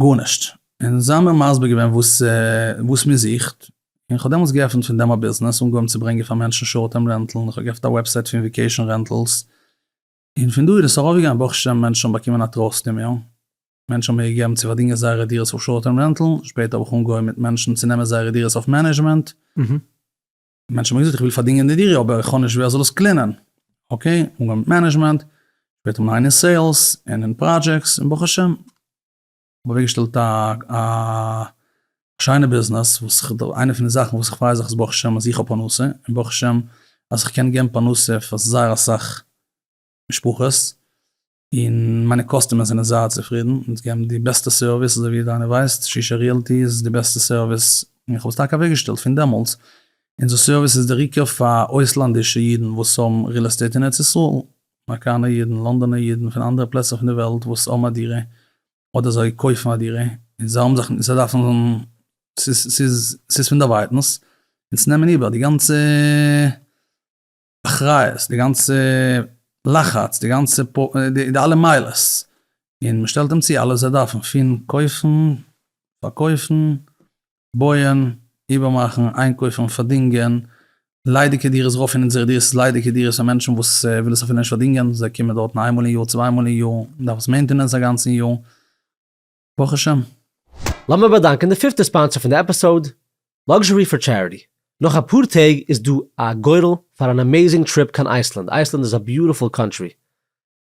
גארנישט, און זיי האבן מיר מסביר געווען וואס מען זוכט, און איך האב דעמאלטס געעפנט פון דעם א ביזנעס, אנגעהויבן צו ברענגען פאר מענטשן שארט טערם רענטל, און איך האב געעפנט א וועבסייט פון וויקעישאן רענטלס, און פון דא איז עס ארויפגעגאנגען, ברוך השם מענטשן האבן באקומען א טראסט אין מיר, מענטשן האבן מיר געגעבן צו פארדינגען זייערע דירות אויף שארט טערם רענטל, שפעטער האב איך אנגעהויבן מיט מענטשן צו נעמען זייערע דירות אויף מענעדזשמענט, מענטשן האבן געזאגט איך וויל פארדינגען די דירה אבער איך האב נישט ווער זאל עס קלינען, אקעי, אנגעהויבן מיט מענעדזשמענט, שפעטער מיין אין סעילס און אין פראדזשעקטס און ברוך השם כ'האב אוועקגעשטעלט א א שיינע ביזנעס וואס איך האב איינע פון די זאכן וואס איך פריי זיך איז ברוך השם אז איך האב פרנסה און ברוך השם אז איך קען געבן פרנסה פאר זייער אסאך משפחות, און מיינע קאסטומערס זענען זייער צופרידן, אונז געבן די בעסטע סערוויס, אזוי ווי דיינער ווייסט, ששה ריעלטי איז די בעסטע סערוויס, און איך האב עס טאקע אוועקגעשטעלט פון דעמאלטס, אונזער סערוויס איז דער עיקר פאר אויסלאנדישע אידן וואס האבן ריעל עסטעיט אין ארץ ישראל, אמעריקאנער אידן, לאנדאנער אידן, פון אנדערע פלעצער פון די וועלט וואס האבן א דירה, אדער זיי קויפן א דירה, און זיי האבן זיך, זיי דארפן, ס'איז, ס'איז פון דערווייטנס, אונז נעמען איבער די גאנצע. אחריות, די גאנצע לחץ, די גאנצע די אלע מעלות, און מען שטעלט אים צו אלעס זיי דארפן, פון קויפן, פארקויפן, בויען, איבערמאכן, איינקויפן, פארדינגען, ליידיגע דירות רויף און אונזערע דירות איז ליידיגע דירות פאר מענטשן וואס וויל עס אפילו נישט פארדינגען, זיי קומען דארטן איין מאל אין יאר, צוויי מאל אין יאר, מען דארף עס מעינטענענס א גאנצן יאר. ברוך השם. לאמיר באדאנקען די פיפטע ספאנסער פון די עפיסאוד, Luxury for Charity. נאך אפאר טעג איז דא א גורל פאר אן אמעיזינג טריפ קיין אייסלאנד. אייסלאנד איז א ביוטיפול קאנטרי,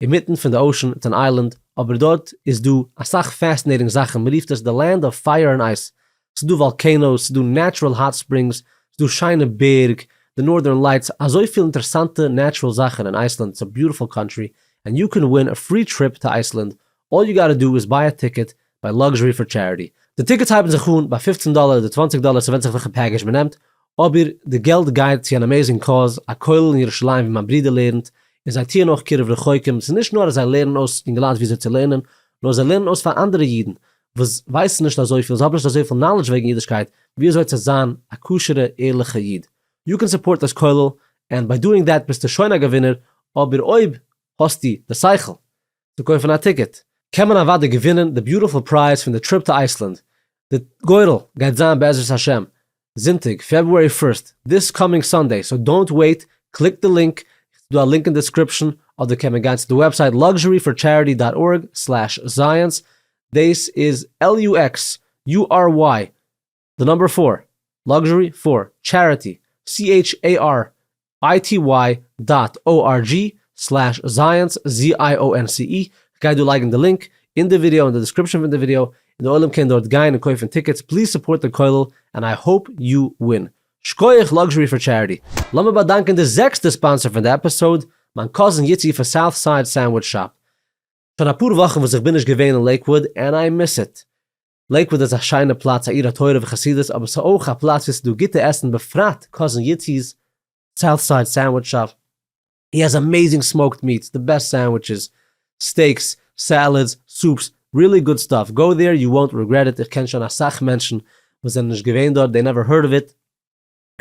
אינמיטן פון די אושען, איטס אן איילענד, אבער דארט איז דא אסאך פעסינעיטינג זאכן, מען רופט עס די לענד אוו פייער און אייס, ס'איז דא וואלקענאוס, ס'איז דא נעטשורעל האט ספרינגס, ס'איז דא שיינע בערג, די נארדערן לייטס, אזויפיל אינטערעסאנטע נעטשורעל זאכן אין אייסלאנד, איטס א ביוטיפול קאנטרי, ענד יו קען ווין א פרי טריפ טו אייסלאנד, אלל יו גאטע דא איז ביי א טיקעט ביי לאקזשערי פאר טשעריטי. די טיקעטס הייבן זיך אן ביי פופצן דאלער אדער צוואנציג דאלער ס'ווענדט זיך וועלכע פעקעזש מ'נעמט, אבער די געלט גייט צו אן אמעזינג קאוז, א כולל אין ירושלים ווי מיין ברודער לערנט, און זיי טוען אויך קירוב רחוקים, ס'איז נישט נאר אז זיי לערנען אויס יונגעלייט וויאזוי צו לערנען, נאר זיי לערנען אויס פאר אנדערע אידן וואס ווייסן נישט אזויפיל, זיי האבן נישט אזויפיל נאלעדזש וועגן אידישקייט, וויאזוי צו זיין א כשר'ע ערליכע איד. יו קען סופארט דיס כולל, ענד ביי דואינג דעט ביסטו שוין א געווינער, אבער אויב האסטו די שכל צו קויפן א טיקעט קען מען אוודאי געווינען די ביוטיפול פרייז פון די טריפ טו אייסלענד, די גורל גייט זיין בעזרת השם זונטאג פעברואר פירסט, דיס קאמינג סאנדעי, סאו דאונט וועיט, קליקט די לינק, ס'דא א לינק אין דיסקריפשאן, אדער קען מען גיין צו די וועבסייט luxuryforcharity דאט ארג סלעש זייענס, דעיס איז LUXURY די נאמבער פאר לאקזשערי פאר טשעריטי, charity דאט org סלעש זייענס, ZIONCE, כ'גיי דא לייגן די לינק אין די ווידעא און די דעסקריפשאן פון די ווידעא און די עולם קען דארט גיין און קויפן טיקעטס, פליז סופארט די כולל ענד איי האופ יו ווין. שקויעך לאקזשערי פאר טשעריטי. לאמיר באדאנקען די זעקסטע ספאנסער פון די עפיסאוד, מיין קאזין יצי פון סאוט סייד סענדוויטש שאפ. שוין אפאר וואכן וואס איך בין נישט געווען אין לעיקוואוד ענד איי מיס איט. לעיקוואד איז א שיינע פלאץ א עיר התורה וחסידות אבער ס'איז אויך א פלאץ ווי ס'איז דא גוטע עסן בפרט קאזין יוצי'ס סאוט סייד סענדוויטש שאפ הי העז אמעזינג סמאוקד מיעטס די בעסט סענדוויטשעס סטעיקס סעלעדס סופס רילי גוד סטאף גאו דעיר יו וואונט ריגרעט איט איך קען שוין אסאך מענטשן וואס זענען נישט געווען דארט דעי נעווער הערד אוו איט.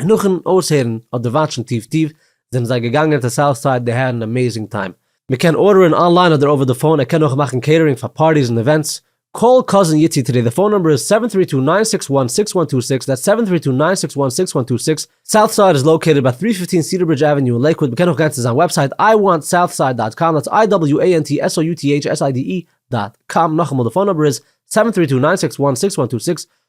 און נאכן אויסהערן אדער וואטשן טיוו טיוו זענען זיי געגאנגען צו סאוט סייד די האט אן עמעזינג טיים. מען קען ארדערן אנליין אדער אווער די פאון, ער קען אויך מאכן קעיטערינג פאר פארטיס און עווענטס. קאל קאזין יצי טודי די פאון נומבער איז סעווען טרי טו ניין סיקס וואן סיקס וואן טו סיקס דעטס סעווען טרי טו ניין סיקס וואן סיקס וואן טו סיקס סאוט סייד איז לאקעיטעד ביי טרי פיפטין סידער ברידזש עוועניו אין לעיקוואד מען קען אויך גיין צו זיין וועבסייט איי וואנט סאוט סייד דאט קאם דעטס איי דאבעליו עי ען טי עס או יו טי עיטש עס איי די אי דאט קאם נאכאמאל די פאון נומבער איז סעווען טרי טו ניין סיקס וואן סיקס וואן טו סיקס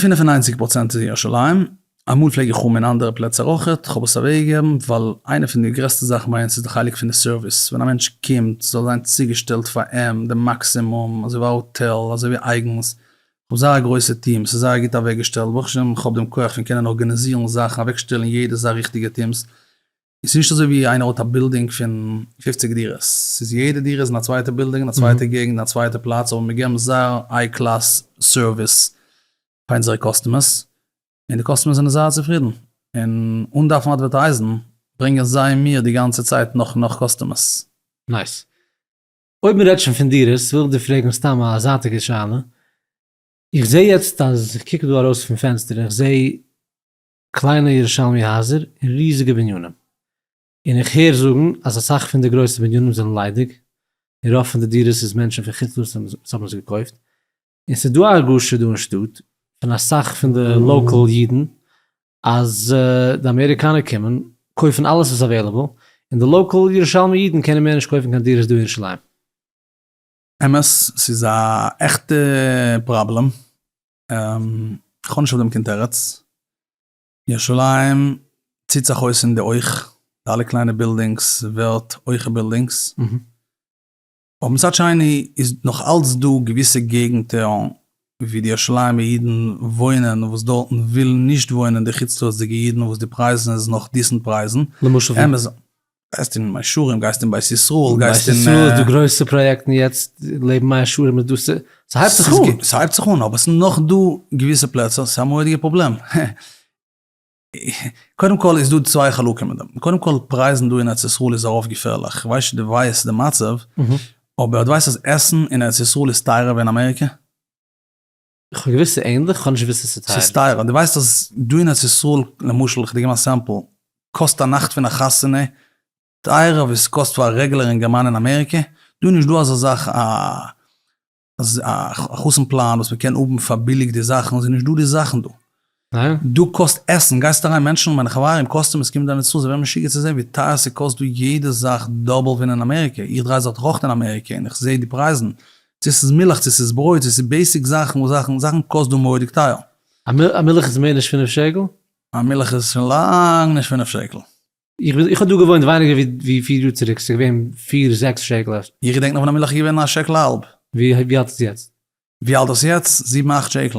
פֿינף און נײַנציק פראצענט איז אין ירושלים, אמאל פלעג איך האבן אין אנדערע פלעצער אויך, כ'האב עס אוועקגעגעבן ווייל איינע פון די גרעסטע זאכן ביי אונז איז די חלק פון די סערוויס, ווען א מענטש קומט זאל זיין צוגעשטעלט פאר אים די מאקסימום, אזוי ווי א האטעל, אזוי ווי אייגנס, כ'האב זייער א גרויסע טיעם, עס איז זייער גוט אוועקגעשטעלט, ברוך השם כ'האב דעם כח פון קענען ארגאניזירן זאכן, אוועקשטעלן יעדעס זייער ריכטיגע טיעמס, ס'איז נישט אזוי ווי איינער האט א בילדינג פון פופציג דירות, ס'איז יעדע דירה איז אין א צווייטע בילדינג, אין א צווייטע געגנט, אין א צווייטע פלאץ, אבער מיר געבן זייער היי קלאס סערוויס פאר אונזערע קאסטומערס, און די קאסטומערס זענען זייער צופרידן, און אן דארפן אדווערטייזן ברענגען זיי מיר די גאנצע צייט נאך און נאך קאסטומערס. נייס. אויב מ'רעדט שוין פון דירות, וויל איך דיר פרעגן סתם א זייטיגע שאלה, איך זעה יעצט אז איך קוק דא ארויס פון פענסטער און איך זעה קליינע ירושלמי הייזער און ריזיגע בנינים, און איך הער זאגן אז אסאך פון די גרויסע בנינים זענען ליידיג, און רוב פון די דירות איז מענטשן פון חוץ לארץ וואס האבן עס געקויפט, און ס'איז דא א הרגשה דא אין שטאט פון אסאך פון די לאקעל אידן אז די אמעריקאנער קומען קויפן אלעס וואס עוועילעבל, און די לאקעל ירושלמי אידן קענען מער נישט קויפן קיין דירות דא אין ירושלים. אמת, ס'איז א עכטע פראבלעם, כ'האב נישט אויף דעם קיין תירוץ. ירושלים ציט זיך אויס אין די אויך, די אלע קליינע בילדינגס ווערט הויכע בילדינגס. אבער מצד שני איז נאך אלץ דא געוויסע געגנטער ווי די ירושלימ'ע אידן וואוינען וואס דארטן ווילן נישט וואוינען די חוץ לארץ'דיגע אידן וואס די פרייזן איז נאך דיסענט פרייזן. למשל ווי? גייסט אין מאה שערים, גייסט אין בית ישראל, גייסט אין... בית ישראל איז דא גרויסע פראיעקטן יעצט, לעבן מאה שערים איז דא, ס'הייבט זיך אן. ס'הייבט זיך אן, אבער ס'נאך דא געוויסע פלעצער, ס'איז א מורא'דיגע פראבלעם. קודם כל איז דא צוויי חלקים אין דעם, קודם כל פרייזן דא אין ארץ ישראל איז ארויף געפערליך, איך ווייס נישט די ווייסט די מצב, אבער די ווייסט אז עסן אין ארץ ישראל איז טייערער ווי אין אמעריקע? איך האב געוויסט ס'איז ענדליך, איך האב נישט געוויסט ס'איז צוטיילט. ס'איז טייער, דו ווייסט אז דא אין ארץ ישראל, למשל, איך דיר געבן א סעמפל, קאסט א נאכט פון א חתונה טייערער ווי ס'קאסט פאר א רעגולער אינגערמאן אין אמעריקע? דא איז נישטא אזא זאך א א חתן פלאן וואס מ'קען האבן פאר ביליג די זאכן, ס'איז נישטא די זאכן דא. דא קאסט עסן, גייסט אריין מענטשן און מיינע חברים קאסט אים, עס קומט דאן נישט צו, זיי ווערן משוגע צו זען ווי טייער ס'קאסט דא יעדע זאך דאבל ווי אין אמעריקע, איך דריי זיך דאך אויך אין אמעריקע און איך זעה די פרייזן, צו ס'איז מילך צו ס'איז ברויט צו ס'איז בעיסיק זאכן וואס זאכן זאכן קאסט דא מורא'דיג טייער. א מילך איז מער נישט פינף שקל? א מילך איז שוין לאנג נישט פינף שקל. איך האב דא געוואוינט ווייניגער ווי פיר יאר צוריק, ס'איז געווען פיר זעקס שקל אפשר. איך געדענק נאך ווען א מילך איז געווען א שקל א האלב. ווי אלט איז יעצט? ווי אלט איז יעצט? זיבן אכט שקל.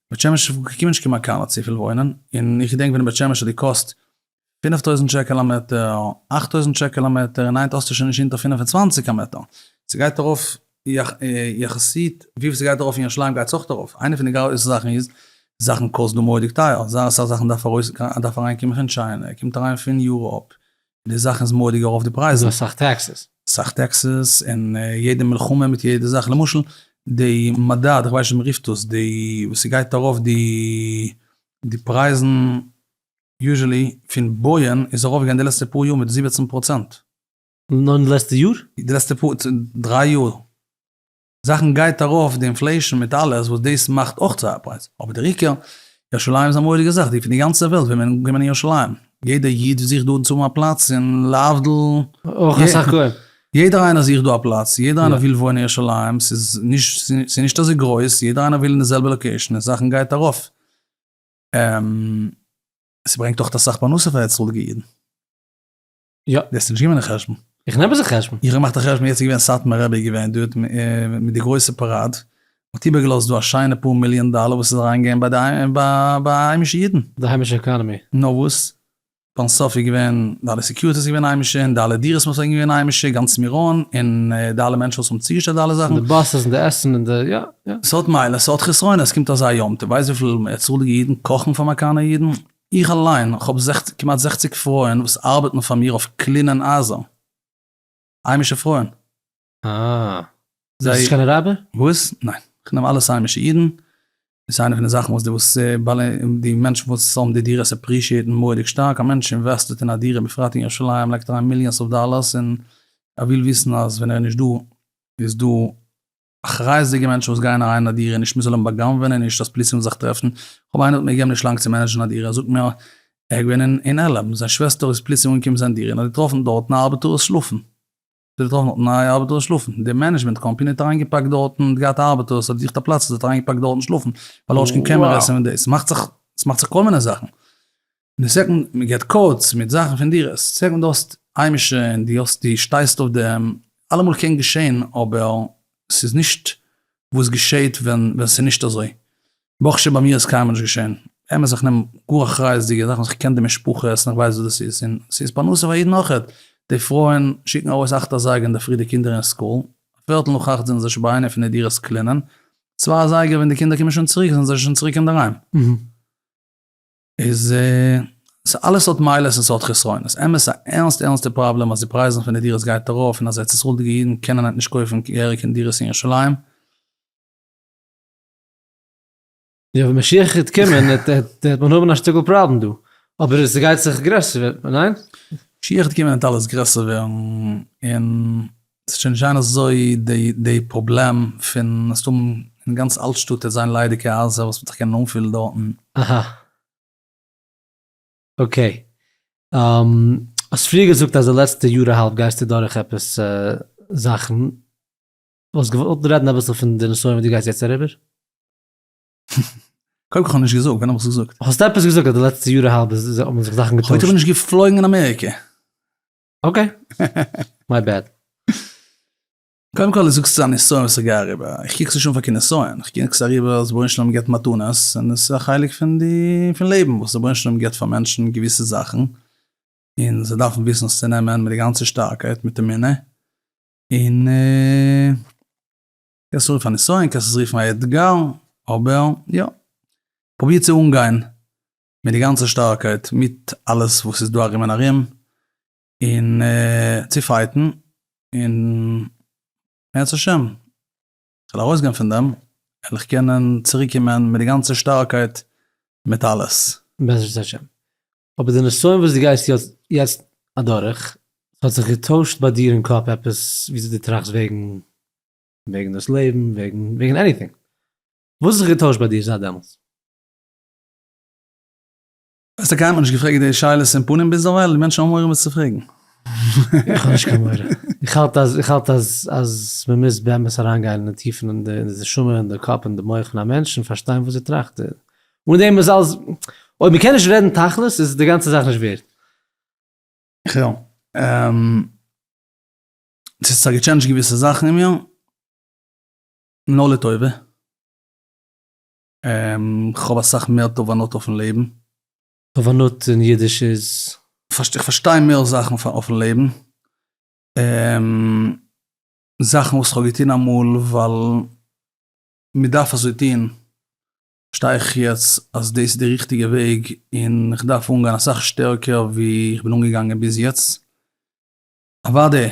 בית שמש קומען נישט קיין מקאנא צופיל וואוינען, און איך געדענק ווען אין בית שמש האט געקאסט פֿינף טויזנט שקל א מעטער, אַכט טויזנט שקל א מעטער, און היינט האסטו שוין נישט אונטער פֿינף און צוואַנציק א מעטער, ס'גייט ארויף יחסית וויפיל ס'גייט ארויף אין ירושלים גייט עס אויך ארויף, איינע פון די גרויסע זאכן איז, זאכן קאסט דא מורא'דיג טייער, זייער אסאך זאכן דארף ארויס אריין קומען פון טשיינע, קומט אריין פון יוראפ, די זאכן איז מוראדיג ארויף די פרייזן. און אסאך טעקסעס. אסאך טעקסעס, און יעדע מלחמה מיט יעדע זאך, למשל די מדד, איך ווייס נישט ווי מ'רופט דאס, די וואס ס'גייט ארויף די די פרייזן, יוזשעלי פון בויען איז ארויף געווען די לעצטע פאר יאר מיט זיבעצן פראצענט. נאר אין די לעצטע יאר? די לעצטע פאר, דריי יאר. זאכן גייט ארויף די אינפלעישן מיט אלעס וואס דאס מאכט אויך צו א פרייז, אבער דער עיקר, ירושלים איז א מורא'דיגע זאך, די פון די גאנצע וועלט ווילן קומען אין ירושלים, יעדע איד זוכט דארטן צו האבן א פלאץ און להבדיל, אויך אסאך גוים. יעדער איינער זוכט דא א פלאץ, יעדער איינער וויל וואוינען אין ירושלים, ס'איז נישט אזוי גרויס, יעדער איינער וויל אין די זעלבע לאקעישן און זאכן גייט ארויף, ס'ברענגט אויך אסאך פרנסה פאר הערצאליגע אידן. יא. די האסט נישט געמען די חשבון. איך נעם עס אין חשבון. איך האב געמאכט א חשבון יעצט איז געווען סאטמאר רבי איז געווען דארט מיט די גרויסע פאראד, האט איבער געלאזט דא א שיינע פאר מיליאן דאלער וואס איז אריין געגעבן ביי די ביי היימישע אידן. די היימישע עקאנעמי. נאר וואס, פארן סוף איז געווען די אלע סעקיוריטי איז געווען היימישע, און די אלע דירות וואס זענען געווען היימישע, גאנץ מירון, און די אלע מענטשן וואס האבן צוגעשטעלט די אלע זאכן. די באסעס און די עסן און די יא יא. ס'האט מעלות ס'האט חסרונות, ס'קומט אזא יום טוב, ווייסט וויפיל צאליגע אידן קאכן פאר מאקאנער אידן? איך אליין האב כמעט זעכציק פרויען וואס ארבעטן פאר מיר אויף קלינען הייזער, היימישע פרויען. אה. זיי. ביסט נישט קיין אראבער? וואס? ניין. איך נעם אלעס היימישע אידן. דאס איז איינע פון די זאכן וואס די וואס בעלי די מענטשן וואס האבן די דירות עפרישיעטן מורא'דיג שטארק. א מענטש אינוועסטעט אין א דירה בפרט אין ירושלים לייגט אריין מיליאנס אוו דאללערס און ער וויל וויסן אז ווען ער איז נישט דא איז דא אחריות'דיגע מענטשן וואס גייען אריין אין א דירה נישט מ'זאל אים בא'גנב'ענען נישט אז פליס ווילן זיך טרעפן, כ'האב איינער האט מיר געגעבן נישט לאנג צו מענעדזשן א דירה ער זאגט מיר ער איז געווען אין על און זיין שוועסטער איז פליס אהן געקומען זיין דירה און האט געטראפן דארטן א ארבעטארס שלאפן האט געטראפן דארטן א ארבעטארס שלאפן די מענעדזשמענט קאמפעני האט אריין געפאקט דארטן האט געהאט ארבעטארס האט געזוכט א פלאץ האט אריין געפאקט דארטן שלאפן ווייל האט נישט קיין קעמרעס און דאס ס'מאכט זיך ס'מאכט זיך כל מיני זאכן. די סעקאנד מען געט קאודס מיט זאכן פון דירות, די סעקאנד די האסט היימישע און די האסט די שטייסט אויף דעם, אלעמאל קען געשען אבער ס'איז נישט וואס געשעט ווען ווען ס'איז נישט אזוי, ברוך השם ביי מיר איז קיינמאל נישט געשען, אמת איך נעם גאר אחריות'דיגע זאכן איך קען די משפחות און איך ווייס וואס דאס איז און ס'איז פרנסה פאר יעדן אויכעט, די פרויען שיקן ארויס אכט אזייגער אינדערפרי די קינדער אין סקול, פערטל נאך אכט זענען זיי שוין ביי איינע פון די דירות קלינען, צוויי אזייגער ווען די קינדער קומען שוין צוריק זענען זיי שוין צוריק אינדערהיים. איז ס ה אלעס האט מעלות און ס'האט חסרונות. אמת א ערנסטע ערנסטע פראבלעם אז די פרייזן פון די דירות גייט ארויף און אז ארץ ישראל'דיגע אידן קענען היינט נישט קויפן געהעריג אין דירות אין ירושלים. יא ווען משיח העט קומען העט מען האבן א שטיקל פראבלעם דא. אבער ס'גייט זיך גרעסער ווערן, ניין? משיח העט קומען העט אלעס גרעסער ווערן און ס'וועט שוין נישט זיין אזוי די פראבלעם פון עס האבן אין גאנץ אלטשטאט וועט זיין ליידיגע הייזער וואס וועט זיך קענען אנפילן דארטן. אהא. אקעי. האסט פריער געזאגט אז די לעצטע יאר אהאלב גייסטו דורך עפעס זאכן. וואלסט געוואלט רעדן אביסל פון די נסיון וואס דו גייסט יעצט אריבער? קודם כל כ'האב נישט געזאגט, ווען האב איך עס געזאגט? האסט עפעס געזאגט אז די לעצטע יאר אהאלב האבן זיך זאכן געטוישט? כ'וואלט אבער נישט געפלויגן אין אמעריקע. אקעי, מיי בעד. קודם כל זאגסטו ס'איז א נסיון וואס איך גיי אריבער, איך קוק עס נישט אן פאר קיין נסיון, איך קוק עס אריבער אז רבונו של עולם גיבט מתנות און עס איז א חלק פון די פון לעבן וואס רבונו של עולם גיבט פאר מענטשן געוויסע זאכן און זיי דארפן וויסן עס צו נעמען מיט די גאנצע שטארקייט מיט אמונה און קענסט עס רופן א נסיון קענסט עס רופן א אתגר אבער יא פרוביר צו אנגיין מיט די גאנצע שטארקייט מיט אלעס וואס איז דא ארום און ארום און צו פייטן און בעזרת השם כ'וועל ארויסגיין פון דעם וועל איך קענען צוריק קומען מיט די גאנצע שטארקייט מיט אלעס. בעזרת השם. אבער די נסיון וואס דו גייסט יעצט אדורך, ס'האט זיך געטוישט ביי דיר אין קאפ עפעס וויאזוי דו טראכסט וועגן וועגן דאס לעבן, וועגן עניטינג? וואס האט זיך געטוישט ביי דיר זייט דעמאלטס? ווייסט טאקע האט מען נישט געפרעגט די שאלות אין פנים ביזדערווייל, די מענטשן האבן מורא וואס צו פרעגן. איך האב נישט קיין מורא. איך האלט אז איך האלט אז אז מען מוז באמת אריינגיין אין די טיפן אין די נשמה אין די קאפ אין די מח פון א מענטש און פארשטיין וואס ער טראכט און אן דעם איז אלעס אויב מען קען נישט רעדן תכלית איז די גאנצע זאך נישט ווערד. ח ו ס'האט זיך געטשענדזשט געוויסע זאכן אין מיר, לא לטובה. כ'האב אסאך מער תובנות אויפן לעבן. תובנות אין אידיש איז? איך פארשטיי מער זאכן אויפן לעבן. זאכן וואס כ'האב געטון אמאל ווייל מ'דארף אזוי טון, פארשטיי איך יעצט אז דאס איז די ריכטיגע וועג און כ'דארף אנגיין אסאך שטערקער ווי כ'בין אנגעגאנגען ביז יעצט. אוואדי.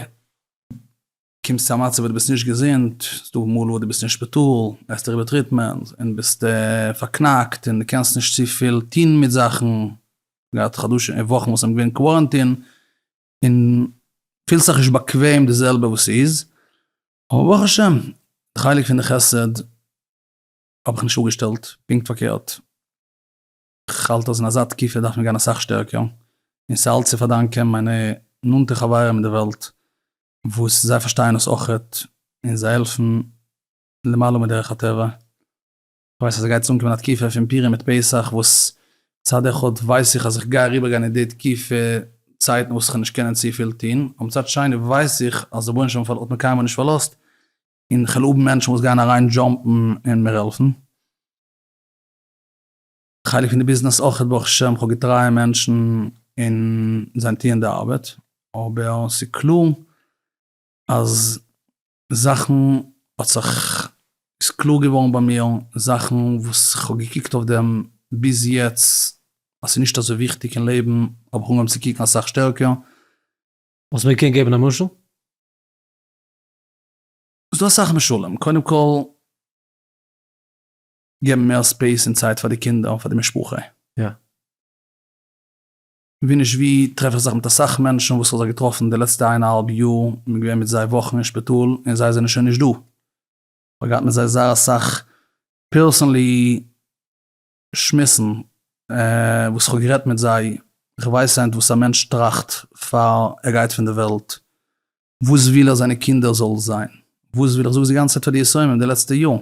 קומסט צו א מצב וואס דו ביסט נישט געזונט, ס'דא מאל וואס דו ביסט אין שפיטאל, גייסט איבער טריטמענט, און ביסט פארקנאקט, און דו קענסט נישט צופיל טון מיט זאכן, געהאט חדשים און וואכן וואס זענען געווען קווארענטין, און פילסט זיך נישט באקוועם די זעלבע וואס ס'איז, אבער ברוך השם, די חלק פון די חסד האב איך נישט אפגעשטעלט, פונקט פארקערט. כ'האלט אז אין אזא תקופה דארף מען גיין אסאך שטערקער, און ס'איז אלץ צו פארדאנקען מיינע נאנטע חברים אין די וועלט, וואס זיי פארשטייען דאס אויכעט, און זיי העלפן למעלה מדרך הטבע. כ'ווייס אז ס'גייט צו אנקומען א תקופה פון פורים מיט פסח, וואס מצד אחד ווייס איך אז כ'גיי אריבערגיין אין די תקופה צייטן וואס כ'וועל נישט קענען צופיל טון, אבער מצד שני ווייס איך אז דער בנש ם האט מיר קיינמאל נישט פארלאזט, און כ'וועל האבן מענטשן וואס גייען אריין דזשאמפן און מיר העלפן. חלק פון די ביזנעס אויכעט ברוך השם, כ'האב געטרייע מענטשן און זיי טוען די ארבעט, אבער ס'איז קלאר אז זאכן האט זיך, ס'איז קלאר געווארן ביי מיר זאכן וואס כ'האב געקוקט אויף דעם ביז יעצט אז ס'איז נישט אזוי וויכטיג אין לעבן, האב איך אנגעהויבן צו קוקן אסאך שטערקער. וואלסט מיר געקענט געבן א משל? ס'דא אסאך משלים, קודם כל. געבן מער ספעיס און צייט פאר די קינדער און פאר די משפחה. יא. ווי נישט ווי טרעף איך זיך מיט אסאך מענטשן וואס כ'האב זיי געטראפן די לעצטע איין אהאלב יאר, מען איז געווען מיט זיי וואכן אין שפיטאל און זיי זענען שוין נישט דא. כ'האב געהאט מיט זיי זייער אסאך פערסענלי שמועסן וואס כ'האב גערעדט מיט זיי, כ'ווייס היינט וואס א מענטש טראכט פאר ער גייט פון די וועלט, וואס וויל ער זיינע קינדער זאל זיין, וואס וויל, איך זאג עס די גאנצע צייט פאר די יסורים די לעצטע יאר,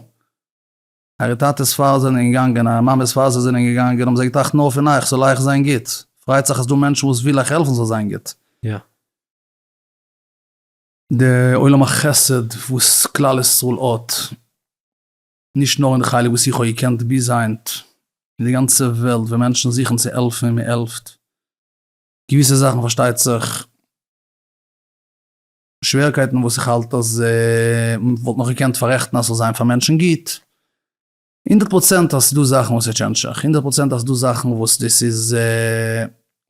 אייער טאטעס פאר זענען געגאנגען, אייער מאמעס פאר זיי זענען געגאנגען, האבן זיי געטראכט נאר פון אייך, ס'זאל אייך זיין גוט. פריידט זיך אז ס'דא מענטשן וואס וויל אייך העלפן ס'זאל זיין גוט. די עולם החסד וואס כלל ישראל האט, נישט נאר אין די חלק וואס איך האב געקענט ביז היינט, אין די גאנצע וועלט ווען מענטשן זוכן צו העלפן און מען העלפט, געוויסע זאכן פארשטייט זיך, שווערקייטן וואס איך האלט אז מען וואלט נאך געקענט פארעכטן אז ס'זאל זיין פאר מענטשן גוט. הונדערט פראצענט אז ס'דא זאכן וואס איז טשענדשעך, הונדערט פראצענט אז ס'דא זאכן וואס דאס איז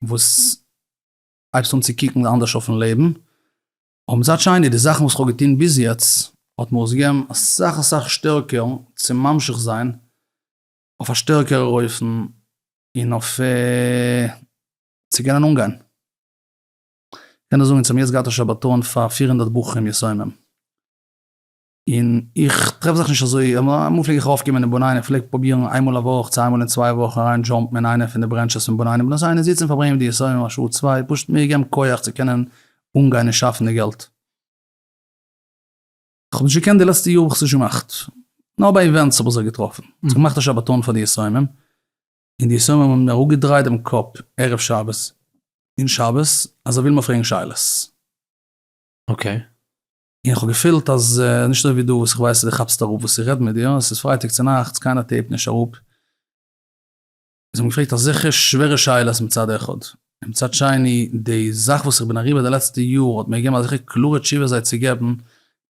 וואס הייבסט אן צו קוקן אנדערש אויפן לעבן. אבער מצד שני די זאכן וואס כ'האב געטון ביז יעצט האט מיר עס געגעבן אסאך אסאך שטערקער צו ממשיך זיין אויף א שטערקערער אופן און אויף צו קענען אנגיין. קען איך זאגן צום יעצט געהאטע שבתון פאר פֿיר הונדערט בחורים יסומים, און איך טרעף זיך נישט אזוי, אמאל פלעג איך ארויפקומען אין בנין, איך פלעג פרובירן איינמאל א וואך, צוויי מאל אין צוויי וואך אריין דזשאמפן אין איינע פון די ברענטשעס פון בנינים בנות עיון און זיצן פארברענגען מיט די יסומים א שעה צוויי, פשוט מיר געבן כח צו קענען אנגיין און שאפן די געלט. איך האב נישט געקענט די לעצטע יאר האב איך עס נישט געמאכט, נאר ביי איווענטס האב איך זיך געטראפן, איך האב געמאכט א שבתון פאר די יסומים, און די שמים האבן אראפגעדרייט דעם קאפ ערב שבת און שבת אז זיי ווילן מיר פרעגן שאלות. אקעי. און איך האב געפילט אז נישט אזוי ווי דא וואס איך ווייס אז דו כאפסט אראפ וואס איך רעד מיט דיר, עס איז פרייטאג צונאכטס קיינער טעיפט נישט אראפ. זיי האבן געפרעגט אזעלכע שווערע שאלות מצד אחד. מצד שני, די זאך וואס איך בין אריבער די לעצטע יאר האט מיר געגעבן אזעלכע קלארע תשובות זיי צו געבן,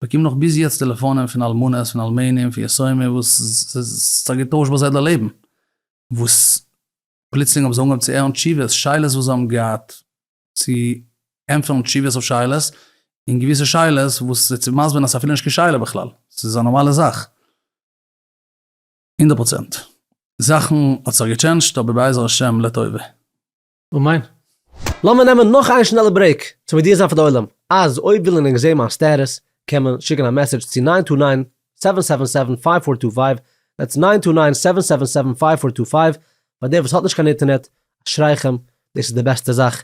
באקום נאך ביז יעצט טעלעפאנען פון אלמנות, פון אלמנים, פון יתומים וואס ס'האט זיי געטוישט ביי זיי די לעבן, וואס פלוצלינג האבן זיי אנגעהויבן צו הערן תשובות, שאלות וואס זיי האבן געהאט צו ענטפערן, תשובות אויף שאלות, און געוויסע שאלות וואס זיי צו מסבר'ן אז ס'איז אפילו נישט קיין שאלה בכלל, ס'איז א נארמאלע זאך. הונדערט פראצענט. זאכן האט זיך געטשענדזשט אבער בעזר השם לטובה. אמן. לאמיר נעמען נאך איין שנעלע ברעיק צו מודיע זיין פאר די עולם אז אויב וויל ענק זעהן מיין סטעטוס קען מען שיקן א מעסעדזש צו ניין טו ניין סעווען סעווען סעווען פייוו פאר טו פייוו דעטס ניין טו ניין סעווען סעווען סעווען פייוו פאר טו פייוו פאר דער וואס האט נישט קיין אינטערנעט אשריכם דאס איז די בעסטע זאך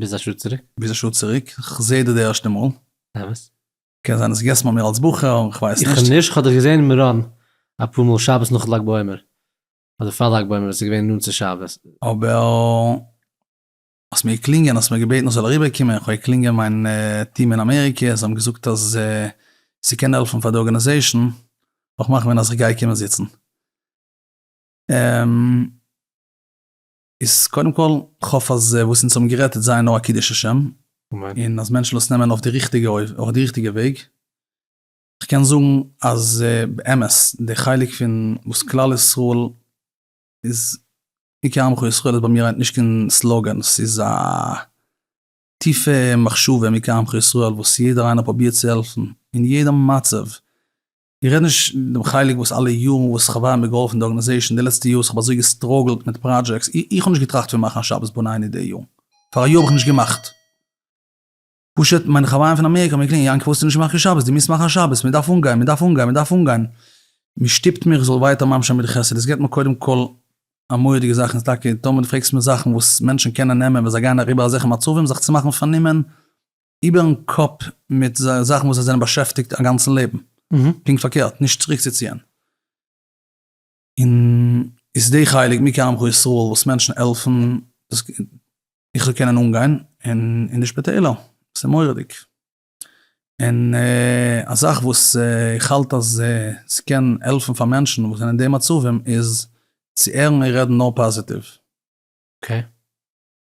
ביז א שעה צוריק. ביז א שעה צוריק, כ'זע דיר די ערשטע מאל. אמת. קען זיין האסט געגעסן ביי מיר אלס בחור, כ'ווייס נישט. איך נישט, כ'האב דיך געזען אין מירון אפאר מאל שבת נאך לג בעומר, אדער פאר לג בעומר, עס איז געווען נאנט צו שבת. אבער האסט מיר געקלינגען, האסט מיר געבעטן איך זאל אריבער קומען, איך האב געקלינגען מיין טיעם אין אמעריקע, זיי האבן געזאגט אז ס'קען העלפן פאר די ארגענעזעישן, וועלכן מאכן ווען אז איך גיי קומען זיצן. איז קודם כל, כ'האף אז וואס אונז האבן גערעדט איז זייער נאר א קידוש השם, אמן. און אז מענטשן דאס נעמען אויף די ריכטיגע אויף די ריכטיגע וועג. כ'קען זאגן אז באמת די חלק פון וואס כלל ישראל איז עיקר עמך ישראל איז ביי מיר היינט נישט קיין סלאגען, ס'איז א טיפע מחשבה, עיקר עמך ישראל, וואס יעדער איינער פרובירט צו העלפן אין יעדע מצב, איך רעד נישט דעם חלק וואס אלע יארן וואס איך האב ווארעם געהאלפן די ארגאניזעישן די לעצטע יאר וואס איך האב אזוי געסטראגלט מיט פראדזשעקטס איך האב נישט געטראכט פון מאכן א שבת בניני די יאר פאר א יאר האב איך נישט געמאכט פשוט מיינע חברים פון אמעריקע האבן מיר געקלינגען יענקי פארוואס האסטו נישט געמאכט קיין שבת דו מוזט מאכן א שבת מען דארף אנגיין מען דארף אנגיין מען דארף אנגיין מען שטופט מיר איך זאל ווייטער ממש זיין מיט די חסד עס געבט מיר קודם כל א מורא'דיגע זאך און ס'טאקע טאמער דו פרעגסט מיר זאכן וואס מענטשן קענען נעמען ווען זיי גייען אריבער אזעלכע מצבים זיך צו מאכן פארנומען. איבערן קאפ מיט זייער זאכן וואס זיי זענען באשעפטיגט א גאנצן לעבן, פונקט פארקערט, נישט צוריקצוציען. און איז די חלק מי כעמך ישראל וואס מענטשן העלפן דאס איך זאל קענען אנגיין אין אין די שפיטעלער, ס'איז מורא'דיג. און א זאך וואס איך האלט אז ס'קען העלפן פאר מענטשן וואס זענען אין די מצבים איז צו הערן און רעדן נאר פאזיטיוו. אקעי.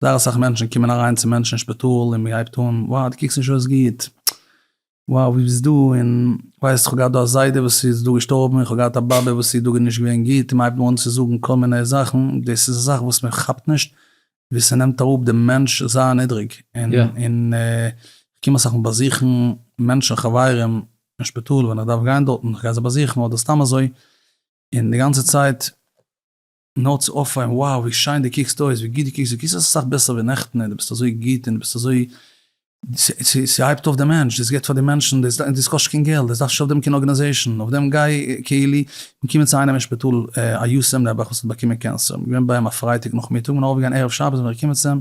זייער אסאך מענטשן קומען אריין צו מענטשן אין שפיטאל און מען הייבט אן, וואו דו קוקסט נישט אויס גוט, וואו ווי ביסט דא, און ווייסט איך האב געהאט דא א זיידע וואס איז דא געשטארבן, איך האב געהאט א באבע וואס איר דאגה נישט געווען גוט, און מען הייבט אן צו זאגן כל מיני זאכן, דאס איז א זאך וואס מען כאפט נישט ווי ס'נעמט אראפ דעם מענטש זייער נידריג, און איך קום אסאך מאל באזוכן מענטשן חברים אין שפיטאל ווען איך דארף גיין דארטן, איך גיי זיי באזוכן אדער סתם אזוי, און די גאנצע צייט. נאר צו אויפפאלן, wow ווי שיין דו קוקסט אויס, ווי גוט דו קוקסט, דו קוקסט אויס אסאך בעסער ווי נעכטן, און דו ביסט אזוי גוט, און דו ביסט אזוי, ס'הייבט אויף די מענטש, דאס גיבט פאר די מענטשן, דאס קאסט נישט קיין געלט, דאס דארף נישט אויף דעם קיין ארגענעזעישן, אויף דעם גיי קהילה, מיר קומען צו איינעם אין שפיטאל א יתום נעבעך וואס האט באקומען קענסער, מיר געווען ביי אים א פרייטאג נאכמיטאג, מיר זענען ארויפגעגאנגען ערב שבת זענען מיר געקומען צו אים,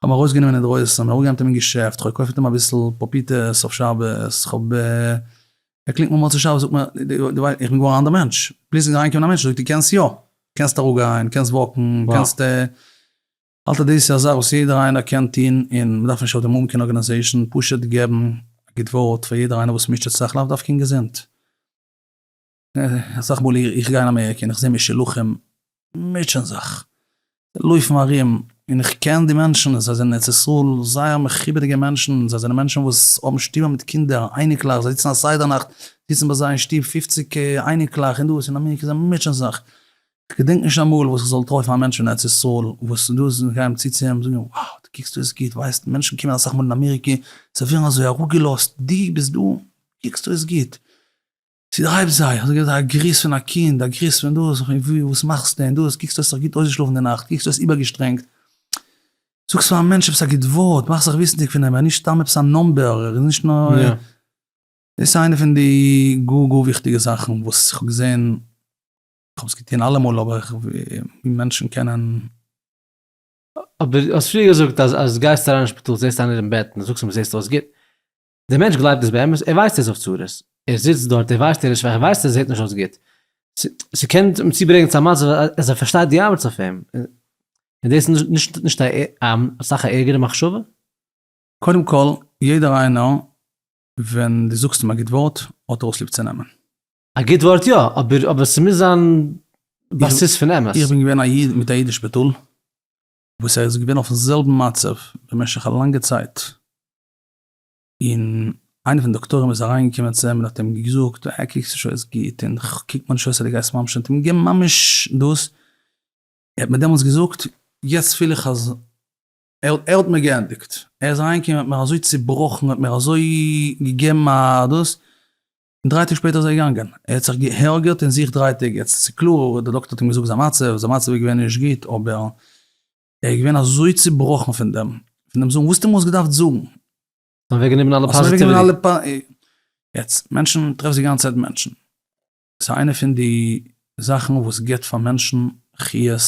כ'האב אים ארויסגענומען אינדרויסן, כ'בין אראפגעגאנגען מיט אים אין געשעפט, כ'האב געקויפט מיט אים אביסל פאפיטעס אויף שבת, כ'האב. ער קלינגט מיר מוצאי שבת זאגט מיר, דו ווייסט, איך בין געווארן א אנדער מענטש, פליצלינג איז אריינגעקומען א מענטש, זאגט ער, דו קענסט יא, קענסט אראפגיין, קענסט וואקן, קענסט. האלט ער דאס איז א זאך וואס יעדער איינער קען טון, און מ'דארף נישט אויפדעם האבן קיין ארגענעזעישן, פשוט געבן א גוט ווארט פאר יעדער איינער וואס מוטשעט זיך, לאו דווקא אין געזונט. אסאך מאל איך גיי אין אמעריקע און איך זעה משולחים מוטשען זיך, לויפן ארום, און איך קען די מענטשן, זיי זענען ארץ ישראל זייער מכובד'יגע מענטשן, זיי זענען מענטשן וואס האבן שטובער מיט קינדער, אייניקלעך, זיי זיצן א סדר נאכט, זיצן ביי זיי אין שטוב פופציג אייניקלעך און דאס, אין אמעריקע זיי מוטשען זיך, כ'געדענק נישט אמאל וואס כ'זאל טרעפן א מענטש פון ארץ ישראל וואס דאס זאל גיין צו צו אים און זאגן וואו, דו קוקסט אויס גוט, ווייסט מענטשן קומען אסאך מאל אין אמעריקע, זיי ווערן אזוי אראפגעלאזט, דו ביסט דא, קוקסט אויס גוט. צו די הייבסט זיי, אזוי געווען א גריס פון א קינד, א גריס פון דאס, און ווי, וואס מאכסטו און דאס, קוקסט האסט זיך גוט אויסגעשלאפן די נאכט, קוקסט האסט איבערגעשטרענגט, זאגסט פאר א מענטש עפעס א גוט ווארט, מאכסט זיך וויסנדיג פון אים, ער איז נישט סתם עפעס א נאמבער, ער איז נישט נאר, דאס איז איינע פון די גאר גאר וויכטיגע זאכן וואס איך האב געזען, איך האב עס געטון אלעמאל אבער ווי מענטשן קענען. אבער דו האסט פריער געזאגט אז אז דו גייסט אריין אין שפיטאל זעסטו איינער אין בעט און זאגסט אים זעסט אויס גוט, דער מענטש גלייבט דאס באמת, ער ווייסט ער איז אויף צרות, ער זיצט דארט, ער ווייסט ער איז שוואך, ער ווייסט ער זעט נישט אויס גוט, ס'קען אים צוברענגען צו א מצב אז ער פארשטייט די אמת אויף אים, און דאס איז נישט נישט אסאך א ערגערע מחשבה? קודם כל, יעדער איינער ווען דו זאגסט אים א גוט ווארט האט ער אויס ליב צו נעמען. א גוט ווארט יא, אבער אבער ס'מוז זיין בסיס פון אמת. איך בין געווען א איד מיט א אידיש בתול, וואס ער איז געווען אויפן זעלבן מצב במשך א לאנגע צייט, און איינער פון די דאקטורים איז אריינגעקומען צו אים און האט אים געזאגט, אה, קוקסט נישט אויס גוט, און קוק מיר נישט אויס אז דו גייסט ממש נישט אנטקומען, ממש דאס, ער האט מיר דעמאלטס געזאגט, יעצט פיל איך אז ער האט מיר געענדיגט, ער איז אריינגעקומען און האט מיר אזוי צובראכן, האט מיר אזוי געגעבן א דאס, און דריי טאג שפעטער איז ער געגאנגען, ער האט זיך גע'הרג'עט אין זיך דריי טעג, יעצט איז קלאר, דער דאקטער האט אים געזאגט זיין מצב, זיין מצב איז געווען נישט גוט, אבער. ער איז געווען אזוי צובראכן פון דעם, פון דעם זאגן, וואס האט אים אויס געדארפט זאגן? האט אוועק גענומען אלע פאזיטיוועטי. יעצט, מענטשן, טרעפסט די גאנצע צייט מענטשן. ס'איז איינע פון די זאכן וואס גיבט פאר מענטשן חיות,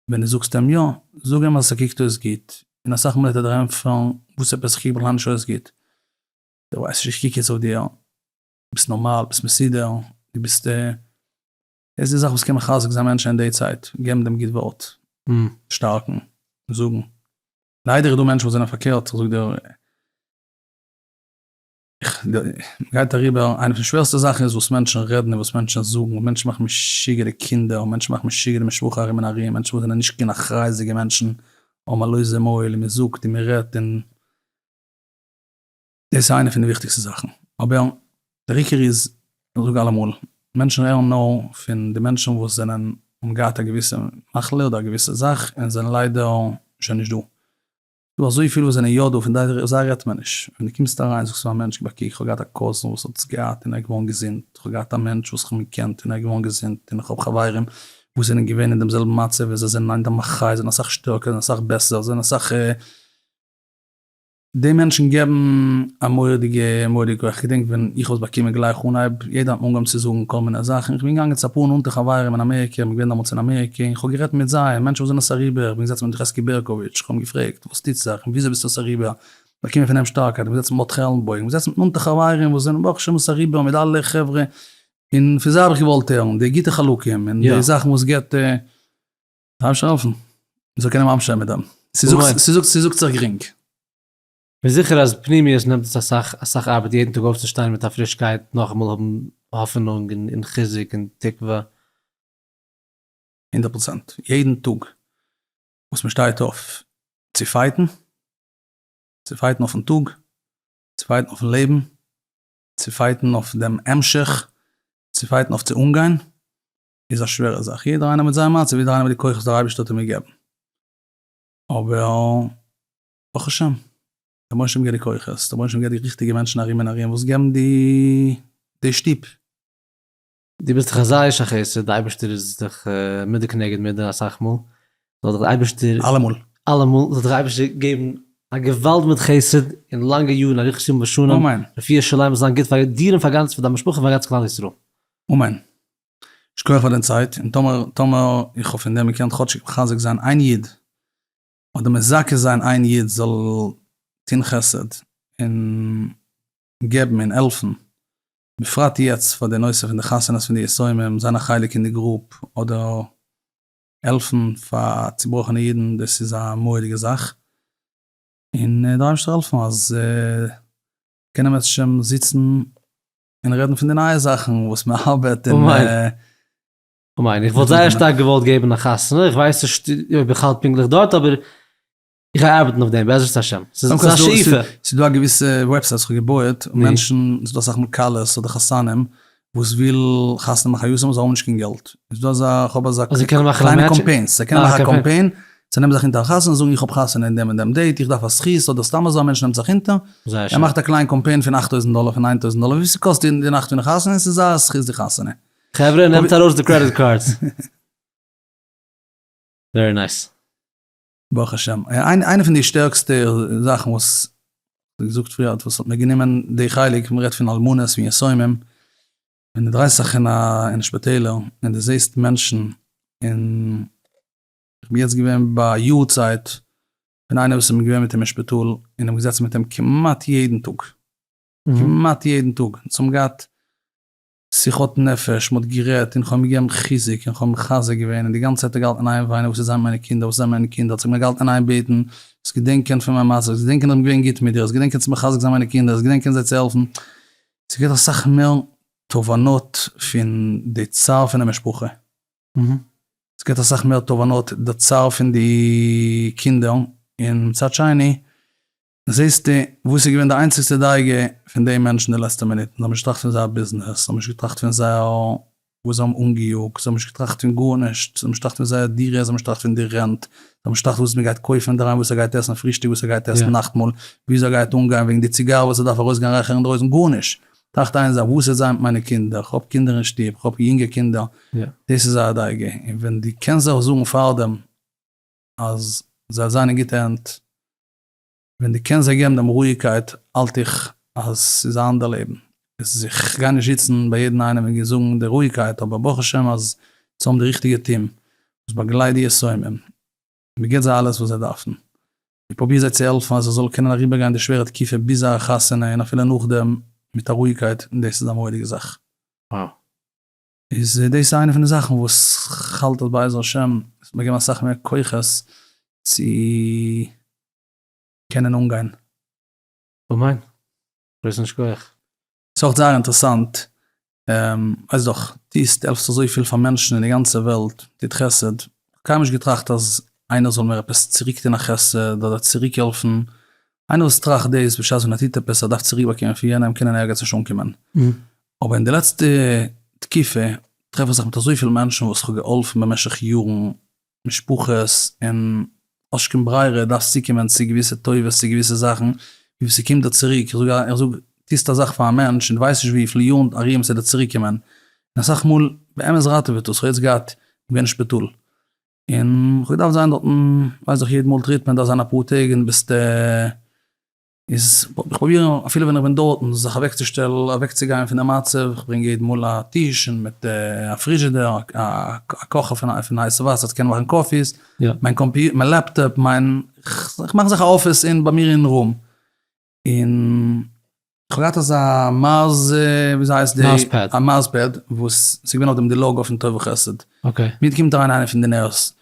ווען דו זאגסט אים יא, זאג אים אז ס'קוקט אויס גוט, און אסאך מאל וועט ער דיר ענטפערן, וואס עפעס? כ'קוק בכלל נישט אויס גוט. דו ווייסט נישט, איך קוק יעצט אויף דיר, דו ביסט נארמאל, ביסט מסודר, דו ביסט. עס איז זאכן וואס קען מחזק זיין מענטשן אין די צייט, געבן דעם גוט ווארט, שטארקן, זאגן. ליידער איז דא מענטשן וואס זענען פארקערט, איך זאג דיר, איך, מען גייט אריבער, איינע פון די שווערסטע זאכן איז וואס מענטשן רעדן און וואס מענטשן זאגן, מענטשן מאכן משוגע די קינדער און מענטשן מאכן משוגע די משפחה ארום און ארום, מענטשן וואס זענען נישט קיין אחריות'דיגע מענטשן, האבן א לויזע מויל און מען זאגט און מען רעדט און. דאס איז איינע פון די וויכטיגסטע זאכן, אבער דער עיקר איז, איך זאג אלעמאל, מענטשן הערן נאר פון די מענטשן וואס זענען, האבן געהאט א געוויסע מחלה אדער א געוויסע זאך און זענען ליידער שוין נישט דא. ס'דא אזויפיל וואס זענען יא דא, פון זיי רעדט מען נישט. ווען דו קומסט אריין זאגסטו פארן מענטש, קוק איך האב געהאט א קאזין וואס האט עס געהאט און ער איז געווארן געזונט, איך האב געהאט א מענטש וואס איך האב געקענט און ער איז געווארן געזונט, און איך האב חברים וואס זענען געווען אין דעם זעלבן מצב און זיי זענען היינט א מחיה, זיי זענען אסאך שטערקער, זיי זענען אסאך שטערקער, זיי זענען אסאך. די מענטשן געבן א מורא'דיגע מורא כח, כ'געדענק ווען איך האב עס באקומען גלייך אנהייב, יעדער האט מיר אנגעהויבן צו זאגן כל מיני זאכן, כ'בין געגאנגען צו אפאר נאנטע חברים אין אמעריקע, כ'בין געווען דעמאלטס אין אמעריקע, און כ'האב גערעדט מיט זיי, מענטשן וואס זענען עס אריבער, כ'בין געזעצן מיט ר' חזקי בערקאוויטש, כ'האב אים געפרעגט, וואס טוט זיך, און וויאזוי ביסטו עס אריבער, באקומען פון אים שטארקייט, כ'בין געזעצן מיט מוטי עלנבוים, כ'בין געזעצן מיט נאנטע חברים וואס זענען ברוך השם עס אריבער, מיט אלע חברה, און פון זיי האב איך געוואלט הערן די גוטע חלקים, און די זאכן וואס געבט. ממשיך העלפן. מען זאל קענען ממשיך זיין מיט דעם. ס'זאגט זיך גרינג. כ'בין זיכער אז פנימיות נעמט עס אסאך אסאך ארבעט יעדן טאג אויפצושטיין מיט א פרישקייט נאכאמאל האבן האפענונג און חיזוק און תקווה. הונדערט פראצענט. יעדן טאג וואס מען שטייט אויף צו פייטן, צו פייטן אויפן טאג, צו פייטן אויפן לעבן, צו פייטן אויף דעם המשך, צו פייטן אויף צו אנגיין, איז א שווערע זאך, יעדער איינער מיט זיין מצב, יעדער איינער מיט די כוחות דער אייבערשטער האט אים געגעבן, אבער ברוך השם, דער מוישעם געבט די כוחות, דער מוישעם געבט די ריכטיגע מענטשן ארום און ארום וואס געבן די שטופ. דו ביסט דאך א זייער איש החסד, דער אייבערשטער איז דיך מידה כנגד מידה אסאך מאל, זאל דיך דער אייבערשטער, אלעמאל, אלעמאל, זאל דיך דער אייבערשטער געבן א געוואלד מיט חסד און לאנגע יארן אריכות ימים ושנים, אמן. רפואה שלימה זאל זיין גוט פאר דיר און פאר דיין משפחה און פאר גאנץ כלל ישראל. אמן. שכוח פאר די צייט, און טאמער טאמער איך האב פון דעם געקענט כאטשיג מחזק זיין איין איד, אדער מזכה זיין איין איד זאל טון חסד און געבן און העלפן, בפרט יעצט פאר די נושא פון די חתונות פון די יתומים, זיין א חלק אין די גרופ, אדער העלפן פאר צובראכענע אידן, דאס איז א מורא'דיגע זאך, און דער אייבערשטער העלפן אז קענען מ'עצט שוין זיצן און רעדן פון די נייע זאכן וואס מען ארבעט און כ'מיין איך וואלט זייער שטארק געוואלט געבן א חתונה, איך ווייס נישט אויב איך האלט פונקטליך דארט אבער איך גיי ארבעטן אויף דעם בעזרת השם, ס'איז א שאיפה. ס'איז דא א געוויסע וועבסייט וואס כ'האב געבויעט, מענטשן, ס'איז דא אסאך מאל כלות אדער חתנים וואס וויל חתונה מאכן א יאר זיי האבן נישט קיין געלט, איז דא אזא, כ'האב אזא קליינע קאמפיינס, זיי קענען מאכן א קאמפיין זיי נעמען זיך אונטער א חתונה, זאגן איך האב חתונה אין דעם און דעם דעיט, איך דארף א זכות, אדער סתם אזוי א מענטש נעמט זיך אונטער, ער מאכט א קליין קאמפיין פון אכט טויזנט דאלער, פון ניין טויזנט דאלער, וויפיל ס'קאסט די נאכט פון די חתונה, און ס'איז זייער א זכות די חתונה. חברה נעמט ארויס די קרעדיט קארדס. ווערי נייס. ברוך השם. איינע פון די שטערקסטע זאכן וואס, ווי געזאגט פריער, וואס האט מיר גענומען די חלק, מ'רעדט פון אלמנות און יתומים, ווען דו דרייסט זיך אין שפיטעלער און דו זעסט מענטשן און. כ'בין יעצט געווען ביי יארצייט פון איינער וואס איז מיר געווען מיט אים אין שפיטאל און האב געזעצן מיט אים כמעט יעדן טאג, כמעט יעדן טאג, אונז האבן געהאט שיחות נפש, מ'האט גערעדט און כ'האב אים געגעבן חיזוק און כ'האב אים מחזק געווען און די גאנצע צייט האט ער געהאלטן אין איין וויינען וואס איז זיין מיינע קינדער וואס איז זיין מיינע קינדער האט זיך מיר געהאלטן אין איין בעטן זאלסט געדענקען פון מיין מצב, זאלסט געדענקען אז כ'בין געווען גוט מיט דיר, זאלסט געדענקען צו מחזק זיין מיינע קינדער, זאלסט געדענקען זיי צו העלפן, ס'געט אסאך מער תובנות פון די צער פון די משפחה. ס'געט אסאך מער תובנות די צער פון די קינדער, און מצד שני זעסטו וואס איז געווען די איינציגסטע דאגה פון די מענטשן די לעצטע מינוט, זיי האבן נישט געטראכט פון זייער ביזנעס, זיי האבן נישט געטראכט פון זייער וואס זיי האבן אנגעיאגט, זיי האבן נישט געטראכט פון גארנישט, זיי האבן נישט געטראכט פון זייער דירה, זיי האבן נישט געטראכט פון די רענט, זיי האבן נישט געטראכט וואס מען גייט קויפן אינדערהיים, וואס ער גייט עסן פרישטאג, וואס ער גייט עסן נאכטמאל, וויאזוי ער גייט אנגיין וועגן די ציגאר וואס ער דארף ארויסגיין רייכערן אינדרויסן, גארנישט, טראכט איין זאך, וואס וועט זיין מיט מיינע קינדער? איך האב קינדער אין שטוב, איך האב יונגע קינדער, דאס איז א דאגה, און ווען דו קענסט זיך זארגן פארדעם אז זיי זיין אין גוטע הענט, ווען דו קענסט זיי געבן דעם רואיגקייט, האלט איך אז ס'איז א אנדער לעבן. איך גיי נישט זיצן ביי יעדן איינעם און זאגן די רואיגקייט, אבער ברוך השם אז צו האבן די ריכטיגע טיעם וואס באגלייט די יתומים, מען גיט זיי אלעס וואס זיי דארפן, מען פרובירט זיי צו העלפן אז זיי זאלן קענען אריבערגיין די שווערע תקופה ביז זייער חתונה און אפילו נאכדעם מיט א רואיגקייט, און דאס איז א מורא'דיגע זאך. וואו. איז דאס איז איינע פון די זאכן וואס כ'האלט אז בעזר השם עס וועט מיר געבן אסאך מער כוחות צו קענען אנגיין. אמן. גרויסן שכוח. ס'איז אויך זייער אינטערעסאנט ווייסט דאך טוסט העלפסט אזויפיל פאר מענטשן אין די גאנצע וועלט טוט חסד, כ'האב קיינמאל נישט געטראכט אז איינער זאל מיר עפעס צוריק טון א חסד אדער צוריק העלפן, איינער וואס טראכט דאס בשעת ווען ער טוט עפעס ער דארף צוריק באקומען פון יענעם קען אין ערגעץ נישט אנקומען, אבער אין די לעצטע תקופה טרעף איך זיך מיט אזויפיל מענטשן וואס כ'האב געהאלפן במשך יארן משפחות און האסט קיין ברירה דארפסט צוקומען צו געוויסע טובות צו געוויסע זאכן און וואס ס'קומט דיר צוריק, איך זאג א איך זאג טוסט א זאך פאר א מענטש און דו ווייסט נישט וויפיל יארן ארום ס'עט דיר צוריק קומען, און אסאך מאל באמת ראטעוועט עס, כ'האב יעצט געהאט, איך בין אין שפיטאל און כ'האב געדארפט זיין דארטן ווייסעך יעדן מאל טריטמענט דארף זיין אפאר טעג און ביסטו. איז איך פרוביר אפילו ווען איך בין דארטן זיך אוועק צו שטעלן אוועק צו גיין פון די מצב, איך ברענג יעדן מאל א טיש און מיט א פריזשידער א קאכער פון הייסע וואסער צו קענען מאכן קאפיס, מיין קאמפיוטער מיין לעפטאפ מיין איך מאך זיך א אפיס אין ביי מיר אין רום, און איך האב געהאט אזא מאז וויאזוי הייסט די מאז פעד, א מאז פעד וואס ס'איז געווען אויף דעם די לאגא פון טוב וחסד, אקעי, מיד קומט אריין איינער פון די נערס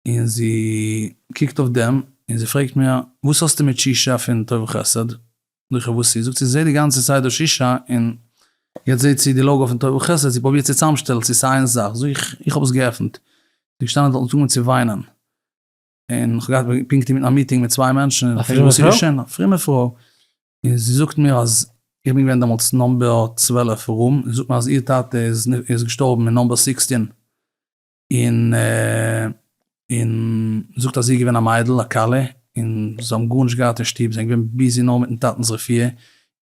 און זי קוקט אויף דעם און זי פרעגט מיר, וואס האסטו מיט ששה פון טוב וחסד? זאג איך, וואס איז? זאגט זי, זי זעט די גאנצע צייט דא ששה און יעצט זעט זי די לאגא פון טוב וחסד, זי פרובירט צו צאמשטעלן צו ס'איז איין זאך, זאג איך, איך האב עס געעפנט, זי געשטאנען דארט און ס'איז אנגעהויבן צו וויינען, און איך האב געהאט פונקט אינמיטן א מיטינג מיט צוויי מענטשן, און איך פרעג וואס איז געשען, א פרומע פרוי, און זי זאגט מיר אז איך בין געווען דעמאלטס נאמבער צוועלף ארום, זי זאגט מיר אז איר טאטע איז געשטארבן אין נאמבער סיקסטין, און און זאגט אז זי איז געווען א מיידל א כלה און זיי האבן גארנישט געהאט אין שטוב זיי זענען געווען ביזי נאר מיטן טאטנס רפואה,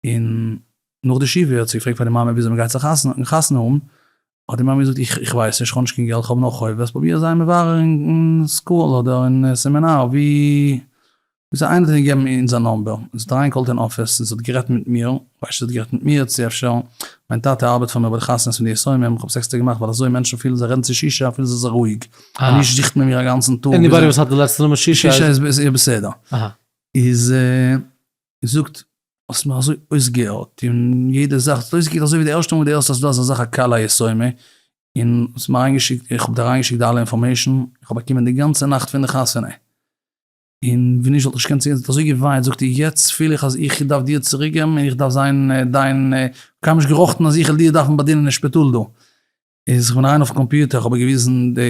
און נאך די שבעה האט זי געפרעגט פאר די מאמע וויאזוי מ'גייט זיך חתונה האבן, האט די מאמע געזאגט איך ווייס נישט כ'האב נישט קיין געלט כ'האב נאר חובות פרוביר זיי מברר אין סקול אדער אין סעמינאר ווי זיי איינער האט געגעבן אונז א נאמבער, זי האט אריינגעקאלט אין אפיס און זי האט גערעדט מיט מיר, כ'ווייס זי האט גערעדט מיט מיר צו אפשר, מיין טאטע ארבעט פאר מיר ביי די חתונות פון די יתומים, כ'האב עס עקסטער געמאכט ווייל אזוי מענטשן פילן זיי רעדן צו שישי א פילן זיי זיך רואיג, אז נישט זוכט מען מיר א גאנצן טאג, עניבאדי וואס האט די לעצטע נאמען שישי איז. שישי איז איר בסדר. איז זי זאגט האסט מיר אזוי אויסגעהערט און יעדע זאך, ס'האט אויסגעקוקט אזוי ווי די ערשטע מאל וואס די הערסט אז ס'איז דא אזא זאך א כלה יתומה, און האסט מיר אריינגעשיקט, איך האב דיר אריינגעשיקט די אלע אינפארמעישן, איך האב באקומען די גאנצע נאכט פון די חתונה. און ווי נישט וואלט איך געקענט צוגיין זי האט אזוי געוויינט זאגט איר יעצט פיל איך אז איך דארף דיר צוריק געבן און איך דארף זיין דיין קיינמאל נישט געראכטן אז איך וועל דיר דארפן באדינען אין שפיטאל דא איז איך בין אריין אויפן קאמפיוטער איך האב איר געוויזן די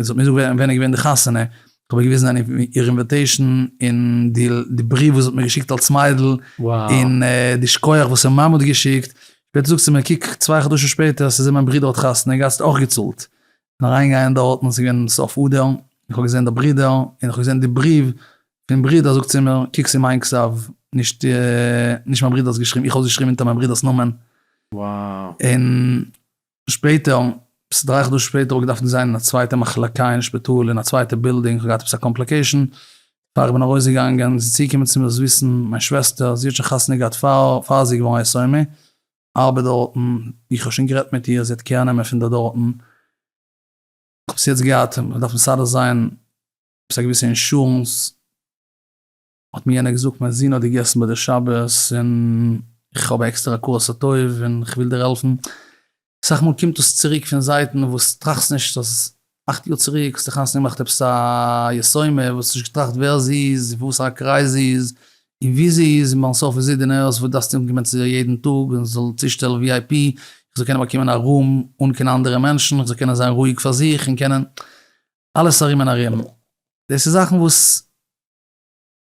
זי האט מיר געזאגט ווען איז געווען די חתונה איך האב איר געוויזן איר אינוויטעישן און די בריוו וואס זי האט מיר געשיקט אלס מיידל און די שכוח וואס איר מאמע האט געשיקט שפעטער זאגט זי מיר קוק צוויי חדשים שפעטער ס'איז זי מיין ברודער האט חתונה געהאט זי האט אויך געצאלט אריינגייען דארטן איז געווען סוף אדר, און איך האב געזען די ברידער, און איך האב געזען די בריוו פון ברידער, זאגט זי מיר, קוק ס'איז מיין כתב, נישט נישט מיין ברידער'ס געשריבן, איך האב עס געשריבן אונטער מיין ברידער'ס נאמען. Wow. און שפעטער, עפעס דריי חדשים שפעטער, האב איך געדארפט זיין אין א צווייטע מחלקה אין שפיטאל, אין א צווייטע בילדינג, איך האב געהאט עפעס א קאמפליקעישאן, פאר איך בין ארויסגעגאנגען, איז צוגעקומען צו מיר זיסן, מיין שוועסטער, זי האט שוין חתונה געהאט פאר זי איז געווארן א יתומה, ארבעט דארטן, איך האב שוין גערעדט מיט איר, זי האט קער נעמען פון די דארטן, איך האב עס יעצט געהאט, איך דארף מסדר זיין עפעס א געוויסע אינשורענס, האט מיר יענער געזאגט מיין זון האט געגעסן ביי די שבת, און איך האב עקסטער הכרת הטוב, און איך וויל דיר העלפן, אסאך מאל קומט דאס צוריק פון זייטן וואס טראכסט נישט אז. אַכט יאָר צוריק האָסטו חתונה געמאַכט עפּעס אַ יסומה, וואָס האָסט נישט געטראַכט ווער זי איז, אין וואָסער אַ קרײַז זי איז און וווּ זי איז, און בײַם סוף איז זי די נוירס וואָס דאַרפֿסטו אָנקומען צו איר יעדן טאָג און זי זאָל צושטעלן וויאַיי-פּי, איך זאָל קענען באַקומען אַ רום אָן קיין אַנדערע מענטשן, איך זאָל קענען זײַן רואיק פֿאַר זיך און קענען. אַלעס אַרום און אַרום. דאָס איז זאַכן וואָס.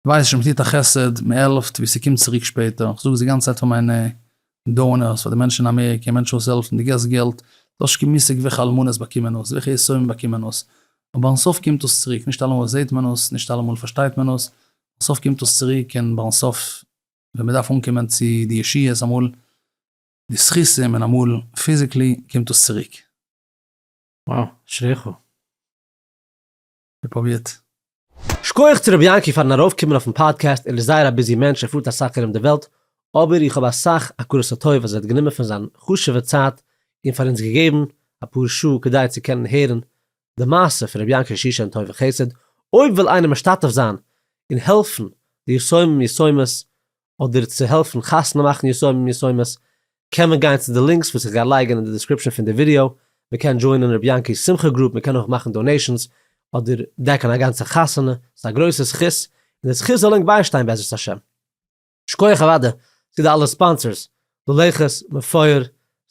ווייס נישט מ'טוט א חסד, מ'העלפט, ווי ס'קומט צוריק שפעטער, איך זאג עס די גאנצע צייט פאר מיינע דאונערס, פאר די מענטשן אין אמעריקע, מענטשן וואס העלפן, די געסט געלט, דו האסט נישט קיין מושג וועלכע אלמנות באקומען עס, וועלכע יתומים באקומען עס, אבער אין סוף קומט עס צוריק, נישט אלעמאל זעט מען עס, נישט אלעמאל פארשטייט מען עס, אין סוף קומט עס צוריק, און ביי סוף ווען מ'דארף אנקומען צו די ישועות, אמאל די זכותים און אמאל פיזיקלי, קומט עס צוריק. וואו, אשריך. פרובירט. שכוח צו רבי יענקי פארן ארויף קומען אויפן פאדקעסט, ער איז זייער א ביזי מענטש ער פארט אסאך ארום די וועלט, אבער איך האב אסאך הכרת הטוב אז ער האט גענומען פון זיין חשובע צייט און פאר אונז געגעבן אפאר שעה כדי צו קענען הערן די מעשה פון רבי יענקי שושן טוב וחסד, אויב וויל איינער משתתף זיין און העלפן די יסומים יסומות אדער צו העלפן חתונה מאכן יתומים יתומות, קען מען גיין צו די לינקס וואס איך גיי לייגן אין די דיסקריפשאן פון די ווידיאו, מען קען דזשוינען ר' יענקי'ס שמחה גרופ, מען קען אויך מאכן דאנעישאנס, אדער דעקן א גאנצע חתונה, ס'איז א גרויסע זכות, און די זכות זאל ענק ביישטיין בעזרת השם. שכוח אוודאי צו די אלע ספאנסערס, לולייכעס, מפואר,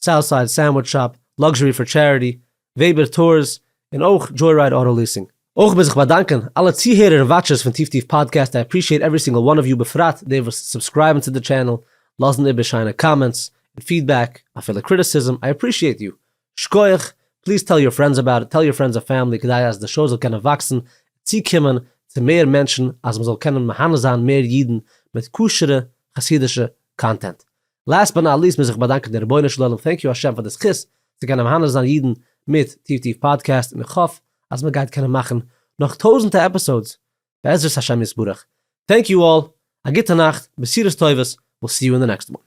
סאוטסייד, סענדוויטש שאפ, לאקזשערי פאר טשעריטי, וועבער טארס, און אויך דזשוירייד אוטא ליסינג. אויך וויל זיך באדאנקען אלע צוהערער און וואטשערס פון טיף טיף פאדקעסט, איי אפרישיעט עווערי סינגעל וואן אוו יו בפרט די וואס סובסקרייבן צו די טשענעל, לאזן איבער שיינע קאמענטס, און פידבעק, אפילו קריטיסיזם, איי אפרישיעט יו, שקויעך, פליז טעל יור פרענדס אבאוט איט, טעל יור פרענדס און פעמילי כדי אז די שוי זאל קענען וואקסן און צוקומען צו מער מענטשן אז מען זאל קענען מהנה זיין מער אידן מיט כשר'ע חסידישע קאנטענט, לאסט באט נאט ליסט מוז איך באדאנקען דעם רבונו של עולם, טענק יו השם פאר די זכות צו קענען מהנה זיין אידן מיט טיף טיף פאדקעסט, און איך האף אז מען גייט קענען מאכן נאך טויזענטע עפיסאודס בעזרת השם יתברך, טענק יו אלל, א גוטע נאכט, בשורות טובות, וויל סי יו אין די נעקסט וואן.